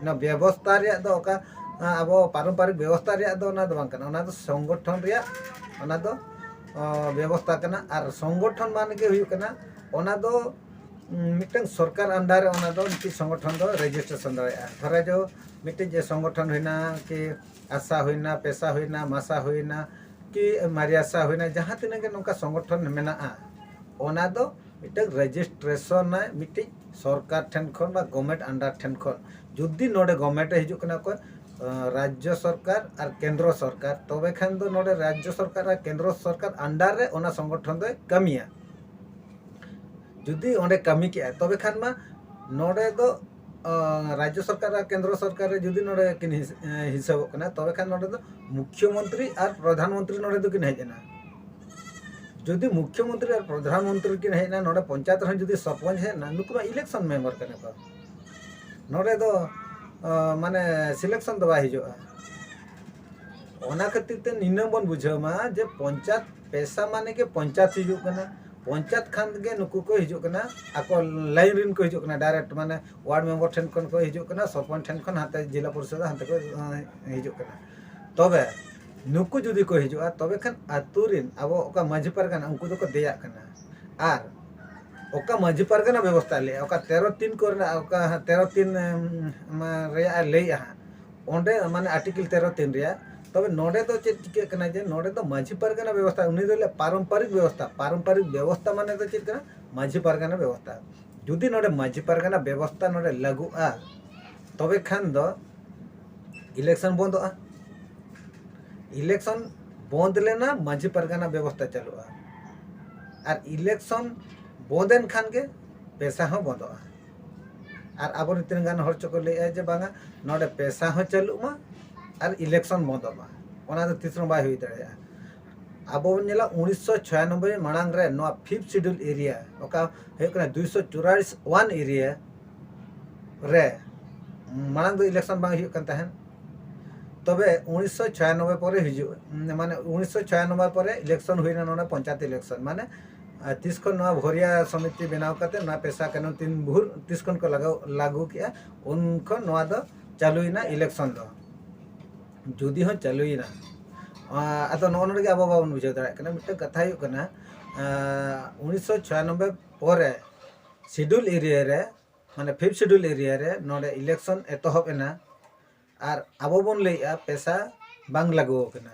ᱚᱱᱟ ᱵᱮᱵᱚᱥᱛᱟ ᱨᱮᱭᱟᱜ ᱫᱚ ᱚᱠᱟ ᱟᱵᱚ ᱯᱟᱨᱚᱢᱯᱟᱨᱤᱠ ᱵᱮᱵᱚᱥᱛᱟ ᱨᱮᱭᱟᱜ ᱫᱚ ᱚᱱᱟ ᱫᱚ ᱵᱟᱝ ᱠᱟᱱᱟ ᱚᱱᱟ ᱫᱚ ᱥᱚᱝᱜᱚᱴᱷᱚᱱ ᱨᱮᱭᱟᱜ ᱚᱱᱟ ᱫᱚ ᱵᱮᱵᱚᱥᱛᱟ ᱠᱟᱱᱟ ᱟᱨ ᱥᱚᱝᱜᱚᱴᱷᱚᱱ ᱢᱟᱱᱮ ᱜᱮ ᱦᱩᱭᱩᱜ ᱠᱟᱱᱟ ᱚᱱᱟ ᱫᱚ ᱢᱤᱫᱴᱟᱝ ᱥᱚᱨᱠᱟᱨ ᱟᱱᱰᱟᱨ ᱨᱮ ᱚᱱᱟ ᱫᱚ ᱢᱤᱫᱴᱤᱡ ᱥᱚᱝᱜᱚᱴᱷᱚᱱ ᱫᱚ ᱨᱮᱡᱤᱥᱴᱨᱮᱥᱚᱱ ᱫᱟᱲᱮᱭᱟᱜᱼᱟ ᱫᱷᱚᱨᱟ ᱡᱚ ᱢᱤᱫᱴᱤᱡ ᱡᱮ ᱥᱚᱝᱜᱚᱴᱷᱚᱱ ᱦᱩᱭᱱᱟ ᱠᱤ ᱟᱥᱟ ᱦᱩᱭᱱᱟ ᱯᱮᱥᱟ ᱦᱩᱭᱱᱟ ᱢᱟᱥᱟ ᱦᱩᱭᱱᱟ ᱠᱤ ᱢᱟᱨᱤᱭᱟᱥᱟ ᱦᱩᱭᱱᱟ ᱡᱟᱦᱟᱸ ᱛᱤᱱᱟᱹᱜ ᱜᱮ ᱱᱚᱝᱠᱟ ᱥᱚᱝᱜᱚᱴᱷᱚᱱ ᱢᱮᱱᱟᱜᱼᱟ ᱚᱱᱟ ᱫᱚ ᱢᱤᱫᱴᱟᱝ ᱨᱮᱡᱤᱥᱴᱨᱮᱥᱚᱱ ᱟᱭ ᱢᱤᱫᱴᱤᱡ ᱥᱚᱨᱠᱟᱨ ᱴᱷᱮᱱ ᱠᱷᱚᱱ ᱵᱟ ᱜᱚᱵᱷᱢᱮᱱᱴ ᱟᱱᱰᱟᱨ ᱴᱷᱮᱱ ᱠᱷᱚᱱ ᱡᱩᱫᱤ ᱱᱚᱰᱮ ᱜᱚᱵᱷᱢᱮᱱᱴ ᱮ ᱦᱤᱡᱩᱜ ᱠᱟᱱᱟ ᱚᱠᱚᱭ ᱨᱟᱡᱽᱡᱚ ᱥᱚᱨᱠᱟᱨ ᱟᱨ ᱠᱮᱱᱫᱨᱚ ᱥᱚᱨᱠᱟᱨ ᱛᱚᱵᱮ ᱠᱷᱟᱱ ᱫᱚ ᱱᱚᱰᱮ ᱨᱟᱡᱽᱡᱚ ᱥᱚᱨᱠᱟᱨ ᱟᱨ ᱠᱮᱱᱫᱨᱚ ᱥᱚᱨᱠᱟᱨ ᱟᱱᱰᱟᱨ ᱨᱮ ᱚᱱᱟ ᱥᱚᱝᱜᱚᱴᱷᱚᱱ ᱫᱚᱭ ᱠᱟᱹᱢᱤᱭᱟ ᱡᱩᱫᱤ ᱚᱸᱰᱮ ᱠᱟᱹᱢᱤ ᱠᱮᱜᱼᱟᱭ ᱛᱚᱵᱮ ᱠᱷᱟᱱ ᱢᱟ ᱱᱚᱰᱮ ᱫᱚ ᱨᱟᱡᱽᱡᱚ ᱥᱚᱨᱠᱟᱨ ᱟᱨ ᱠᱮᱱᱫᱨᱚ ᱥᱚᱨᱠᱟᱨ ᱨᱮ ᱡᱩᱫᱤ ᱱᱚᱰᱮ ᱠᱤᱱ ᱦᱤᱥᱟᱹᱵᱚᱜ ᱠᱟᱱᱟ ᱛᱚᱵᱮ ᱠᱷᱟᱱ ᱱᱚᱰᱮ ᱫᱚ ᱢᱩᱠᱷᱭᱚ ᱢᱚᱱᱛᱨᱤ ᱟᱨ ᱯᱨᱚᱫᱷᱟᱱ ᱢᱚᱱᱛᱨᱤ ᱱᱚᱰᱮ ᱫᱚᱠᱤᱱ ᱦᱮᱡ ᱮᱱᱟ ᱡᱩᱫᱤ ᱢᱩᱠᱷᱭᱚ ᱢᱚᱱᱛᱨᱤ ᱟᱨ ᱯᱨᱚᱫᱷᱟᱱ ᱢᱚᱱᱛᱨᱤ ᱠᱤᱱ ᱦᱮᱡ ᱮᱱᱟ ᱱᱚᱰᱮ ᱯᱚᱧᱪᱟᱭᱮᱛ ᱨᱮᱦᱚᱸ ᱡᱩᱫᱤ ᱥᱚᱨᱯᱚᱧᱪ ᱦᱮᱡ ᱮᱱᱟ ᱱᱩᱠᱩ ᱢᱟ ᱤᱞᱮᱠᱥᱚᱱ ᱢᱮᱢᱵᱟᱨ ᱠᱟᱱᱟ ᱠᱚ ᱱᱚᱰᱮ ᱫᱚ ᱢᱟᱱᱮ ᱥᱤᱞᱮᱠᱥᱚᱱ ᱫᱚ ᱵᱟᱭ ᱦᱤᱡᱩᱜᱼᱟ ᱚᱱᱟ ᱠᱷᱟᱹᱛᱤᱨ ᱛᱮ ᱱᱤᱱᱟᱹ ᱵᱚᱱ ᱵᱩᱡᱷᱟᱹᱣ ᱢᱟ ᱡᱮ ᱯᱚᱧᱪᱟᱭᱮᱛ ᱯᱮᱥᱟ ᱢᱟᱱᱮ ᱜᱮ ᱯᱚᱧᱪᱟᱭᱮᱛ ᱦᱤᱡᱩᱜ ᱠᱟᱱᱟ ᱯᱚᱧᱪᱟᱭᱮᱛ ᱠᱷᱟᱱ ᱜᱮ ᱱᱩᱠᱩ ᱠᱚ ᱦᱤᱡᱩᱜ ᱠᱟᱱᱟ ᱟᱠᱚ ᱞᱟᱭᱤᱱ ᱨᱮᱱ ᱠᱚ ᱦᱤᱡᱩᱜ ᱠᱟᱱᱟ ᱰᱟᱭᱨᱮᱠᱴ ᱢᱟᱱᱮ ᱳᱣᱟᱨᱰ ᱢᱮᱢᱵᱚᱨ ᱴᱷᱮᱱ ᱠᱷᱚᱱ ᱠᱚ ᱦᱤᱡᱩᱜ ᱠᱟᱱᱟ ᱥᱚᱨᱯᱚᱧᱪ ᱴᱷᱮᱱ ᱠᱷᱚᱱ ᱦᱟᱱᱛᱮ ᱡᱮᱞᱟ ᱯᱚᱨᱤᱥᱚᱫ ᱦᱟᱱᱛᱮ ᱠᱚ ᱦᱤᱡᱩᱜ ᱠᱟᱱᱟ ᱛᱚᱵᱮ ᱱᱩᱠᱩ ᱡᱩᱫᱤ ᱠᱚ ᱦᱤᱡᱩᱜᱼᱟ ᱛᱚᱵᱮ ᱠᱷᱟᱱ ᱟᱛᱳ ᱨᱮᱱ ᱟᱵᱚ ᱚᱠᱟ ᱢᱟᱹᱡᱷᱤ ᱯᱟᱨᱜᱟᱱᱟ ᱩᱱᱠᱩ ᱫᱚᱠᱚ ᱫᱮᱭᱟᱜ ᱠᱟᱱᱟ ᱟᱨ ᱚᱠᱟ ᱢᱟᱹᱡᱷᱤ ᱯᱟᱨᱜᱟᱱᱟ ᱵᱮᱵᱚᱥᱛᱷᱟ ᱞᱮᱜᱼᱟ ᱚᱠᱟ ᱛᱮᱨᱚ ᱛᱤᱱ ᱠᱚᱨᱮᱱᱟᱜ ᱚᱠᱟ ᱛᱮᱨᱚ ᱛᱤᱱ ᱨᱮᱭᱟᱜ ᱮ ᱞᱟᱹᱭᱮᱜᱼᱟ ᱦᱟᱸᱜ ᱚᱸᱰᱮ ᱢᱟᱱᱮ ᱟᱨᱴᱤᱠᱮᱞ ᱛᱮᱨᱚ ᱛᱤᱱ ᱨᱮᱭᱟᱜ ᱛᱚᱵᱮ ᱱᱚᱰᱮ ᱫᱚ ᱪᱮᱫ ᱪᱤᱠᱟᱹᱜ ᱠᱟᱱᱟ ᱡᱮ ᱱᱚᱰᱮ ᱫᱚ ᱢᱟᱺᱡᱷᱤ ᱯᱟᱨᱜᱟᱱᱟ ᱵᱮᱵᱚᱥᱛᱷᱟ ᱩᱱᱤ ᱫᱚ ᱞᱟᱹᱭᱟ ᱯᱟᱨᱚᱢᱯᱟᱨᱤᱠ ᱵᱮᱵᱚᱥᱛᱷᱟ ᱯᱟᱨᱚᱢᱯᱟᱨᱤᱠ ᱵᱮᱵᱚᱥᱛᱷᱟ ᱢᱟᱱᱮ ᱫᱚ ᱪᱮᱫ ᱠᱟᱱᱟ ᱢᱟᱺᱡᱷᱤ ᱯᱟᱨᱜᱟᱱᱟ ᱵᱮᱵᱚᱥᱛᱷᱟ ᱡᱩᱫᱤ ᱱᱚᱰᱮ ᱢᱟᱺᱡᱷᱤ ᱯᱟᱨᱜᱟᱱᱟ ᱵᱮᱵᱚᱥᱛᱷᱟ ᱱᱚᱰᱮ ᱞᱟᱹᱜᱩᱜᱼᱟ ᱛᱚᱵᱮ ᱠᱷᱟᱱ ᱫᱚ ᱤᱞᱮᱠᱥᱚᱱ ᱵᱚᱱᱫᱚᱜᱼᱟ ᱤᱞᱮᱠᱥᱚᱱ ᱵᱚᱱᱫ ᱞᱮᱱᱟ ᱢᱟᱺᱡᱷᱤ ᱯᱟᱨᱜᱟᱱᱟ ᱵᱮᱵᱚᱥᱛᱷᱟ ᱪᱟᱹᱞᱩᱜᱼᱟ ᱟᱨ ᱤᱞᱮᱠᱥᱚᱱ ᱵᱚᱱᱫᱮᱱ ᱠᱷᱟᱱ ᱜᱮ ᱯᱮᱥᱟ ᱦᱚᱸ ᱵᱚᱱᱫᱚᱜᱼᱟ ᱟᱨ ᱟᱵᱚᱨᱮᱱ ᱛᱤᱱᱟᱹᱜ ᱜᱟᱱ ᱦᱚᱲ ᱪᱚᱠᱚ ᱞᱟᱹᱭᱮᱜᱼᱟ ᱡᱮ ᱵᱟᱝᱟ ᱱᱚᱰᱮ ᱯᱮᱥᱟ ᱦᱚᱸ ᱪᱟᱹᱞᱩᱜ ᱢᱟ ᱟᱨ ᱤᱞᱮᱠᱥᱚᱱ ᱵᱚᱱᱫᱚᱜ ᱢᱟ ᱚᱱᱟ ᱫᱚ ᱛᱤᱥ ᱨᱮᱦᱚᱸ ᱵᱟᱭ ᱦᱩᱭ ᱫᱟᱲᱮᱭᱟᱜᱼᱟ ᱟᱵᱚ ᱵᱚᱱ ᱧᱮᱞᱟ ᱩᱱᱤᱥᱥᱚ ᱪᱷᱚᱭᱟᱱᱚᱵᱵᱳᱭ ᱢᱟᱲᱟᱝ ᱨᱮ ᱱᱚᱣᱟ ᱯᱷᱤᱯᱛᱷ ᱥᱤᱰᱩᱞ ᱮᱨᱤᱭᱟ ᱚᱠᱟ ᱦᱩᱭᱩᱜ ᱠᱟᱱᱟ ᱫᱩᱭᱥᱚ ᱪᱩᱨᱟᱞᱤᱥ ᱚᱣᱟᱱ ᱮᱨᱤᱭᱟ ᱨᱮ ᱢᱟᱲᱟᱝ ᱫᱚ ᱤᱞᱮᱠᱥᱚᱱ ᱵᱟᱝ ᱦᱩᱭᱩᱜ ᱠᱟᱱ ᱛᱟᱦᱮᱸᱫ ᱛᱚᱵᱮ ᱩᱱᱤᱥᱥᱚ ᱪᱷᱚᱭᱟᱱᱚᱵᱵᱳᱭ ᱯᱚᱨᱮ ᱦᱤᱡᱩᱜ ᱢᱟᱱᱮ ᱩᱱᱤᱥᱥᱚ ᱪᱷᱚᱭᱟᱱᱚᱵᱵᱳᱭ ᱯᱚᱨᱮ ᱤᱞᱮᱠᱥᱚᱱ ᱦᱩᱭᱱᱟ ᱱᱚᱰᱮ ᱯᱚᱧᱪᱟᱭᱮᱛ ᱤᱞᱮᱠᱥᱚᱱ ᱢᱟᱱᱮ ᱟᱨ ᱛᱤᱥ ᱠᱷᱚᱱ ᱱᱚᱣᱟ ᱵᱷᱚᱨᱤᱭᱟ ᱥᱚᱢᱤᱛᱤ ᱵᱮᱱᱟᱣ ᱠᱟᱛᱮ ᱱᱚᱣᱟ ᱯᱮᱥᱟ ᱠᱟᱱᱩᱱ ᱛᱤᱱ ᱵᱷᱩᱨ ᱛᱤᱥ ᱠᱷᱚᱱ ᱠᱚ ᱞᱟᱜᱟᱣ ᱞᱟᱜᱩ ᱠᱮᱜᱼᱟ ᱩᱱ ᱠᱷᱚᱱ ᱱᱚᱣᱟ ᱫᱚ ᱪᱟᱞᱩᱭᱮᱱᱟ ᱤᱞᱮᱠᱥᱚᱱ ᱫᱚ ᱡᱩᱫᱤ ᱦᱚᱸ ᱪᱟᱞᱩᱭᱮᱱᱟ ᱟᱫᱚ ᱱᱚᱜᱼᱚ ᱱᱚᱰᱮ ᱜᱮ ᱟᱵᱚ ᱵᱟᱵᱚᱱ ᱵᱩᱡᱷᱟᱹᱣ ᱫᱟᱲᱮᱭᱟᱜ ᱠᱟᱱᱟ ᱢᱤᱫᱴᱟᱝ ᱠᱟᱛᱷᱟ ᱦᱩᱭᱩᱜ ᱠᱟᱱᱟ ᱩᱱᱤᱥᱥᱚ ᱪᱷᱤᱭᱟᱱᱚᱵᱵᱳᱭ ᱯᱚᱨᱮ ᱥᱤᱰᱩᱞ ᱮᱨᱤᱭᱟ ᱨᱮ ᱢᱟᱱᱮ ᱯᱷᱤᱯᱷ ᱥᱤᱰᱩᱞ ᱮᱨᱤᱭᱟ ᱨᱮ ᱱᱚᱰᱮ ᱤᱞᱮᱠᱥᱚᱱ ᱮᱛᱚᱦᱚᱵ ᱮᱱᱟ ᱟᱨ ᱟᱵᱚ ᱵᱚᱱ ᱞᱟᱹᱭᱮᱜᱼᱟ ᱯᱮᱥᱟ ᱵᱟᱝ ᱞᱟᱜᱩ ᱟᱠᱟᱱᱟ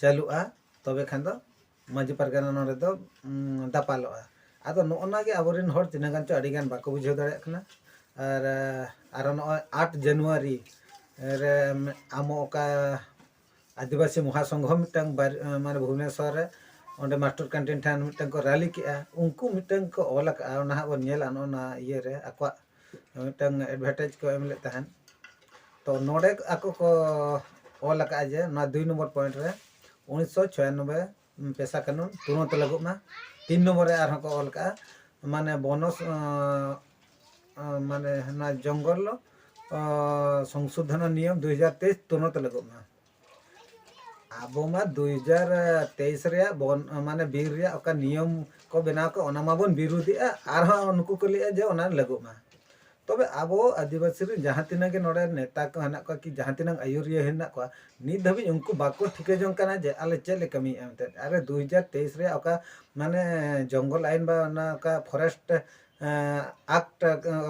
ᱪᱟᱹᱞᱩᱜᱼᱟ ᱛᱚᱵᱮ ᱠᱷᱟᱱ ᱫᱚ ᱢᱟᱺᱡᱷᱤ ᱯᱟᱨᱜᱟᱱᱟ ᱱᱚᱰᱮ ᱫᱚ ᱫᱟᱯᱟᱞᱚᱜᱼᱟ ᱟᱫᱚ ᱱᱚᱜᱼᱚ ᱱᱟ ᱜᱮ ᱟᱵᱚ ᱨᱮᱱ ᱦᱚᱲ ᱛᱤᱱᱟᱹᱜ ᱜᱟᱱ ᱪᱚ ᱟᱹᱰᱤ ᱜᱟᱱ ᱵᱟᱠᱚ ᱵᱩᱡᱷᱟᱹᱣ ᱫᱟᱲᱮᱭᱟᱜ ᱠᱟᱱᱟ ᱟᱨ ᱟᱨᱚ ᱱᱚᱜᱼᱚᱭ ᱟᱴ ᱡᱟᱱᱩᱣᱟᱨᱤ ᱨᱮ ᱟᱢᱚ ᱚᱠᱟ ᱟᱹᱫᱤᱵᱟᱹᱥᱤ ᱢᱚᱦᱟ ᱥᱚᱝᱜᱷᱚ ᱢᱤᱫᱴᱟᱝ ᱢᱟᱱᱮ ᱵᱷᱩᱵᱽᱱᱮᱥᱚᱨ ᱨᱮ ᱚᱸᱰᱮ ᱢᱟᱥᱴᱚᱨ ᱠᱮᱱᱴᱤᱱ ᱴᱷᱮᱱ ᱢᱤᱫᱴᱟᱝ ᱠᱚ ᱨᱟᱞᱤ ᱠᱮᱜᱼᱟ ᱩᱱᱠᱩ ᱢᱤᱫᱴᱟᱝ ᱠᱚ ᱚᱞ ᱟᱠᱟᱜᱼᱟ ᱚᱱᱟ ᱦᱟᱸᱜ ᱵᱚᱱ ᱧᱮᱞᱟ ᱱᱚᱜᱼᱚ ᱱᱟ ᱤᱭᱟᱹ ᱨᱮ ᱟᱠᱚᱣᱟᱜ ᱢᱤᱫᱴᱟᱝ ᱮᱰᱵᱷᱮᱴᱟᱭᱤᱡᱽ ᱠᱚ ᱮᱢ ᱞᱮᱫ ᱛᱟᱦᱮᱸᱫ ᱛᱚ ᱱᱚᱰᱮ ᱟᱠᱚ ᱠᱚ ᱚᱞ ᱟᱠᱟᱫᱼᱟ ᱡᱮ ᱱᱚᱣᱟ ᱫᱩᱭ ᱱᱚᱢᱵᱚᱨ ᱯᱚᱭᱮᱱᱴ ᱨᱮ ᱩᱱᱤᱥᱥᱚ ᱪᱷᱚᱭᱟᱱᱚᱵᱵᱳᱭ ᱯᱮᱥᱟ ᱠᱟᱹᱱᱩᱱ ᱛᱩᱨᱚᱱᱛ ᱞᱟᱹᱜᱩᱜ ᱢᱟ ᱛᱤᱱ ᱱᱚᱢᱵᱚᱨ ᱨᱮ ᱟᱨᱦᱚᱸ ᱠᱚ ᱚᱞ ᱟᱠᱟᱫᱼᱟ ᱢᱟᱱᱮ ᱵᱚᱱᱚᱥ ᱢᱟᱱᱮ ᱱᱚᱣᱟ ᱡᱚᱝᱜᱚᱞ ᱥᱚᱝᱥᱳᱫᱷᱚᱱ ᱱᱤᱭᱚᱢ ᱫᱩ ᱦᱟᱡᱟᱨ ᱛᱮᱭᱤᱥ ᱛᱩᱨᱚᱱᱛ ᱞᱟᱹᱜᱩᱜ ᱢᱟ ᱟᱵᱚ ᱢᱟ ᱫᱩ ᱦᱟᱡᱟᱨ ᱛᱮᱭᱤᱥ ᱨᱮᱭᱟᱜ ᱵᱚᱱ ᱢᱟᱱᱮ ᱵᱤᱨ ᱨᱮᱭᱟᱜ ᱚᱠᱟ ᱱᱤᱭᱚᱢ ᱠᱚ ᱵᱮᱱᱟᱣ ᱠᱟᱜ ᱚᱱᱟ ᱢᱟᱵᱚᱱ ᱵᱤᱨᱩᱫᱷᱮᱜᱼᱟ ᱟᱨᱦᱚᱸ ᱱᱩᱠᱩ ᱠᱚ ᱞᱟᱹᱭᱮᱜᱼᱟ ᱡᱮ ᱚᱱᱟ ᱞᱟᱹᱜᱩᱜ ᱢᱟ ᱛᱚᱵᱮ ᱟᱵᱚ ᱟᱹᱫᱤᱵᱟᱹᱥᱤ ᱨᱮᱱ ᱡᱟᱦᱟᱸ ᱛᱤᱱᱟᱹᱜ ᱜᱮ ᱱᱚᱰᱮ ᱱᱮᱛᱟ ᱠᱚ ᱦᱮᱱᱟᱜ ᱠᱚᱣᱟ ᱠᱤ ᱡᱟᱦᱟᱸ ᱛᱤᱱᱟᱹᱜ ᱟᱹᱭᱩᱨᱤᱭᱟᱹ ᱦᱮᱱᱟᱜ ᱠᱚᱣᱟ ᱱᱤᱛ ᱫᱷᱟᱹᱵᱤᱡ ᱩᱱᱠᱩ ᱵᱟᱠᱚ ᱴᱷᱤᱠᱟᱹ ᱡᱚᱝ ᱠᱟᱱᱟ ᱡᱮ ᱟᱞᱮ ᱪᱮᱫ ᱞᱮ ᱠᱟᱹᱢᱤᱭᱮᱜᱼᱟ ᱢᱮᱱᱛᱮ ᱟᱨᱮ ᱫᱩ ᱦᱟᱡᱟᱨ ᱛᱮᱭᱤᱥ ᱨᱮᱭᱟᱜ ᱚᱠᱟ ᱢᱟᱱᱮ ᱡᱚᱝᱜᱚᱞ ᱟᱭᱤᱱ ᱵᱟ ᱚᱱᱟ ᱚᱠᱟ ᱯᱷᱚᱨᱮᱥᱴ ᱟᱠᱴ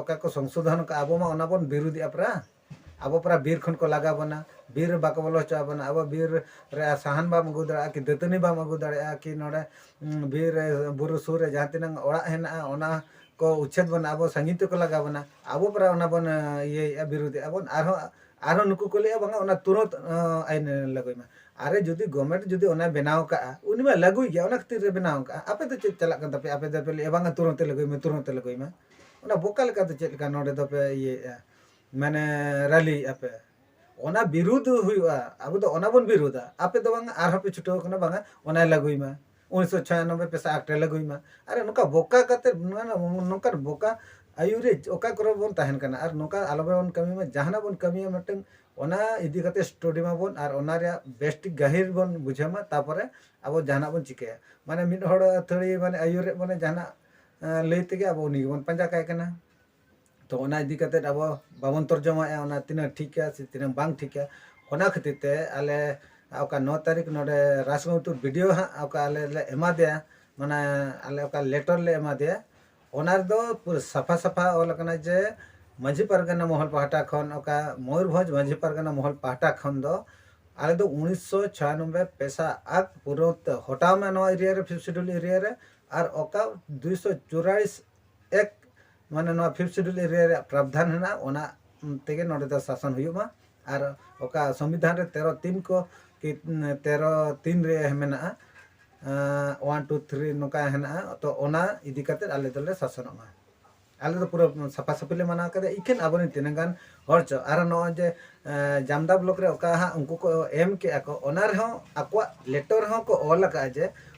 ᱚᱠᱟ ᱠᱚ ᱥᱚᱝᱥᱳᱫᱷᱚᱱ ᱠᱟᱜᱼᱟ ᱟᱵᱚ ᱢᱟ ᱚᱱᱟ ᱵᱚᱱ ᱵᱤᱨᱩᱫᱷᱮᱜᱼᱟ ᱯᱨᱟ ᱟᱵᱚ ᱯᱚᱨᱟ ᱵᱤᱨ ᱠᱷᱚᱱ ᱠᱚ ᱞᱟᱜᱟ ᱵᱚᱱᱟ ᱵᱤᱨ ᱨᱮ ᱵᱟᱠᱚ ᱵᱚᱞᱚ ᱦᱚᱪᱚ ᱟᱵᱚᱱᱟ ᱟᱵᱚ ᱵᱤᱨ ᱨᱮ ᱥᱟᱦᱟᱱ ᱵᱟᱢ ᱟᱹᱜᱩ ᱫᱟᱲᱮᱭᱟᱜᱼᱟ ᱠᱤ ᱫᱟᱹᱛᱟᱹᱱᱤ ᱵᱟᱢ ᱟᱹᱜᱩ ᱫᱟᱲᱮᱭᱟᱜᱼᱟ ᱠᱤ ᱱᱚᱰᱮ ᱵᱤᱨ ᱨᱮ ᱵᱩᱨᱩ ᱥᱩᱨ ᱨᱮ ᱡᱟᱦᱟᱸ ᱛᱤᱱᱟᱹᱜ ᱚᱲᱟᱜ ᱦᱮᱱᱟᱜᱼᱟ ᱚᱱᱟ ᱠᱚ ᱩᱪᱪᱷᱮᱫ ᱵᱚᱱᱟ ᱟᱵᱚ ᱥᱟᱺᱜᱤᱧ ᱛᱮᱠᱚ ᱞᱟᱜᱟ ᱵᱚᱱᱟ ᱟᱵᱚ ᱯᱚᱨᱟ ᱚᱱᱟ ᱵᱚᱱ ᱤᱭᱟᱹᱭᱮᱜᱼᱟ ᱵᱤᱨᱩᱫᱮᱜᱼᱟ ᱵᱚᱱ ᱟᱨᱦᱚᱸ ᱟᱨᱦᱚᱸ ᱱᱩᱠᱩ ᱠᱚ ᱞᱟᱹᱭᱮᱜᱼᱟ ᱵᱟᱝᱟ ᱚᱱᱟ ᱛᱩᱨᱟᱹᱛ ᱟᱭᱤᱱ ᱞᱟᱹᱜᱩᱭ ᱢᱟ ᱟᱨᱮ ᱡᱩᱫᱤ ᱜᱚᱵᱷᱢᱮᱱᱴ ᱡᱩᱫᱤ ᱚᱱᱟᱭ ᱵᱮᱱᱟᱣ ᱠᱟᱜᱼᱟ ᱩᱱᱤ ᱢᱟ ᱞᱟᱹᱜᱩᱭ ᱜᱮᱭᱟ ᱚᱱᱟ ᱠᱷᱟᱹᱛᱤᱨ ᱮ ᱵᱮᱱᱟᱣ ᱠᱟᱜᱼᱟ ᱟᱯᱮ ᱫᱚ ᱪᱮᱫ ᱪᱟᱞᱟᱜ ᱠᱟᱱ ᱛᱟᱯᱮᱭᱟ ᱟᱯᱮ ᱫᱚᱯᱮ ᱞᱟᱹᱭᱮᱜᱼᱟ ᱵᱟᱝᱟ ᱛᱩᱨᱟᱹᱛ ᱞᱟᱹᱜᱩᱭ ᱢᱮ ᱛᱩᱨᱟᱹᱛ ᱞᱟᱹᱜᱩᱭ ᱢᱮ ᱚᱱᱟ ᱵᱚᱠᱟ ᱞᱮᱠᱟ ᱫᱚ ᱪᱮᱫ ᱞᱮᱠᱟ ᱱᱚᱰᱮ ᱫᱚᱯᱮ ᱤᱭᱟᱹᱭᱮᱜᱼᱟ ᱢᱟᱱᱮ ᱨᱟᱞᱤᱭᱮᱜ ᱟᱯᱮ ᱚᱱᱟ ᱵᱤᱨᱩᱫᱷ ᱦᱩᱭᱩᱜᱼᱟ ᱟᱵᱚ ᱫᱚ ᱚᱱᱟ ᱵᱚᱱ ᱵᱤᱨᱩᱫᱷᱟ ᱟᱯᱮ ᱫᱚ ᱵᱟᱝ ᱟᱨᱦᱚᱸ ᱯᱮ ᱪᱷᱩᱴᱟᱹᱣ ᱠᱟᱱᱟ ᱵᱟᱝᱟ ᱚᱱᱟ ᱞᱟᱹᱜᱩᱭ ᱢᱟ ᱩᱱᱤᱥᱥᱚ ᱪᱷᱟᱭᱟᱱᱚᱵᱵᱳᱭ ᱯᱮᱥᱟ ᱟᱠᱴ ᱮ ᱞᱟᱹᱜᱩᱭ ᱢᱟ ᱟᱨ ᱱᱚᱝᱠᱟ ᱵᱚᱠᱟ ᱠᱟᱛᱮ ᱱᱚᱝᱠᱟᱱ ᱵᱚᱠᱟ ᱟᱹᱭᱩᱨ ᱨᱮ ᱚᱠᱟ ᱠᱚᱨᱮ ᱵᱚᱱ ᱛᱟᱦᱮᱱ ᱠᱟᱱᱟ ᱟᱨ ᱱᱚᱝᱠᱟ ᱟᱞᱚ ᱵᱚᱱ ᱠᱟᱹᱢᱤ ᱢᱟ ᱡᱟᱦᱟᱱᱟᱜ ᱵᱚᱱ ᱠᱟᱹᱢᱤᱭᱟ ᱢᱤᱫᱴᱟᱝ ᱚᱱᱟ ᱤᱫᱤ ᱠᱟᱛᱮ ᱥᱴᱚᱰᱤ ᱢᱟᱵᱚᱱ ᱟᱨ ᱚᱱᱟ ᱨᱮᱭᱟᱜ ᱵᱮᱥ ᱴᱷᱤᱠ ᱜᱟᱹᱦᱤᱨ ᱵᱚᱱ ᱵᱩᱡᱷᱟᱹᱣ ᱢᱟ ᱛᱟᱯᱚᱨᱮ ᱟᱵᱚ ᱡᱟᱦᱟᱱᱟᱜ ᱵᱚᱱ ᱪᱤᱠᱟᱹᱭᱟ ᱢᱟᱱᱮ ᱢᱤᱫ ᱦᱚᱲ ᱟᱹᱛᱷᱟᱹᱲᱤ ᱢᱟᱱᱮ ᱟᱹᱭᱩᱨᱮᱜ ᱵᱚᱱᱟ ᱡᱟᱦᱟᱱᱟᱜ ᱞᱟᱹᱭ ᱛᱮᱜᱮ ᱟᱵᱚ ᱩᱱᱤ ᱜᱮᱵᱚᱱ ᱯᱟᱸᱡᱟ ᱠᱟᱭ ᱠᱟᱱᱟ ᱛᱚ ᱚᱱᱟ ᱤᱫᱤ ᱠᱟᱛᱮ ᱟᱵᱚ ᱵᱟᱵᱚᱱ ᱛᱚᱨᱡᱚᱢᱟᱭᱮᱜᱼᱟ ᱚᱱᱟ ᱛᱤᱱᱟᱹᱜ ᱴᱷᱤᱠᱟ ᱥᱮ ᱛᱤᱱᱟᱹᱜ ᱵᱟᱝ ᱴᱷᱤᱠᱟ ᱚᱱᱟ ᱠᱷᱟᱹᱛᱤᱨ ᱛᱮ ᱟᱞᱮ ᱚᱠᱟ ᱱᱚ ᱛᱟᱹᱨᱤᱠᱷ ᱱᱚᱰᱮ ᱨᱟᱡᱽᱜᱚᱢᱛᱩ ᱵᱤ ᱰᱤ ᱳ ᱦᱟᱸᱜ ᱚᱠᱟ ᱟᱞᱮ ᱞᱮ ᱮᱢᱟᱫᱮᱭᱟ ᱢᱟᱱᱮ ᱟᱞᱮ ᱚᱠᱟ ᱞᱮᱴᱚᱨ ᱞᱮ ᱮᱢᱟᱫᱮᱭᱟ ᱚᱱᱟ ᱨᱮᱫᱚ ᱯᱩᱨᱟᱹ ᱥᱟᱯᱷᱟ ᱥᱟᱯᱷᱟ ᱚᱞ ᱟᱠᱟᱱᱟ ᱡᱮ ᱢᱟᱺᱡᱷᱤ ᱯᱟᱨᱜᱟᱱᱟ ᱢᱚᱦᱚᱞ ᱯᱟᱦᱴᱟ ᱠᱷᱚᱱ ᱚᱠᱟ ᱢᱚᱭᱩᱨᱵᱷᱚᱸᱡᱽ ᱢᱟᱺᱡᱷᱤ ᱯᱟᱨᱜᱟᱱᱟ ᱢᱚᱦᱚᱞ ᱯᱟᱦᱴᱟ ᱠᱷᱚᱱ ᱫᱚ ᱟᱞᱮ ᱫᱚ ᱩᱱᱤᱥᱥᱚ ᱪᱷᱟᱭᱟᱱᱚᱵᱵᱳᱭ ᱯᱮᱥᱟ ᱟᱠ ᱯᱩᱨᱟᱹᱣ ᱛᱮ ᱦᱚᱴᱟᱣ ᱢᱮ ᱱᱚᱣᱟ ᱮᱨᱤᱭᱟ ᱨᱮ ᱯᱷᱤᱯᱛᱷ ᱥᱤᱰᱩᱞ ᱮᱨᱤᱭᱟ ᱨᱮ ᱟᱨ ᱚᱠᱟ ᱫᱩᱭᱥᱚ ᱪᱩᱨᱟᱞᱤᱥ ᱮᱠ ᱢᱟᱱᱮ ᱱᱚᱣᱟ ᱯᱷᱤᱯᱛᱷ ᱥᱤᱰᱩᱞ ᱮᱨᱤᱭᱟ ᱨᱮᱭᱟᱜ ᱯᱨᱟᱵᱽᱫᱷᱟᱱ ᱦᱮᱱᱟᱜᱼᱟ ᱚᱱᱟ ᱛᱮᱜᱮ ᱱᱚᱰᱮ ᱫᱚ ᱥᱟᱥᱚᱱ ᱦᱩᱭᱩᱜ ᱢᱟ ᱟᱨ ᱚᱠᱟ ᱥᱚᱝᱵᱤᱫᱷᱟᱱ ᱨᱮ ᱛᱮᱨᱚ ᱛᱤᱱ ᱠᱚ ᱠᱤ ᱛᱮᱨᱚ ᱛᱤᱱ ᱨᱮ ᱢᱮᱱᱟᱜᱼᱟ ᱚᱣᱟᱱ ᱴᱩ ᱛᱷᱨᱤ ᱱᱚᱝᱠᱟ ᱦᱮᱱᱟᱜᱼᱟ ᱛᱚ ᱚᱱᱟ ᱤᱫᱤ ᱠᱟᱛᱮᱫ ᱟᱞᱮ ᱫᱚᱞᱮ ᱥᱟᱥᱚᱱᱚᱜ ᱢᱟ ᱟᱞᱮ ᱫᱚ ᱯᱩᱨᱟᱹ ᱥᱟᱯᱷᱟ ᱥᱟᱹᱯᱷᱤ ᱞᱮ ᱢᱟᱱᱟᱣ ᱠᱟᱫᱟ ᱤᱠᱷᱟᱹᱱ ᱟᱵᱚ ᱨᱮᱱ ᱛᱤᱱᱟᱹᱜ ᱜᱟᱱ ᱦᱚᱲ ᱪᱚ ᱟᱨ ᱱᱚᱜᱼᱚᱭ ᱡᱮ ᱡᱟᱢᱫᱟ ᱵᱞᱚᱠ ᱨᱮ ᱚᱠᱟ ᱦᱟᱸᱜ ᱩᱱᱠᱩ ᱠᱚ ᱮᱢ ᱠᱮᱜᱼᱟ ᱠᱚ ᱚᱱᱟ ᱨᱮᱦᱚᱸ ᱟᱠᱚᱣᱟᱜ ᱞᱮᱴᱚᱨ ᱦᱚᱸ ᱠᱚ ᱚᱞ ᱟᱠᱟᱫᱼᱟ ᱡᱮ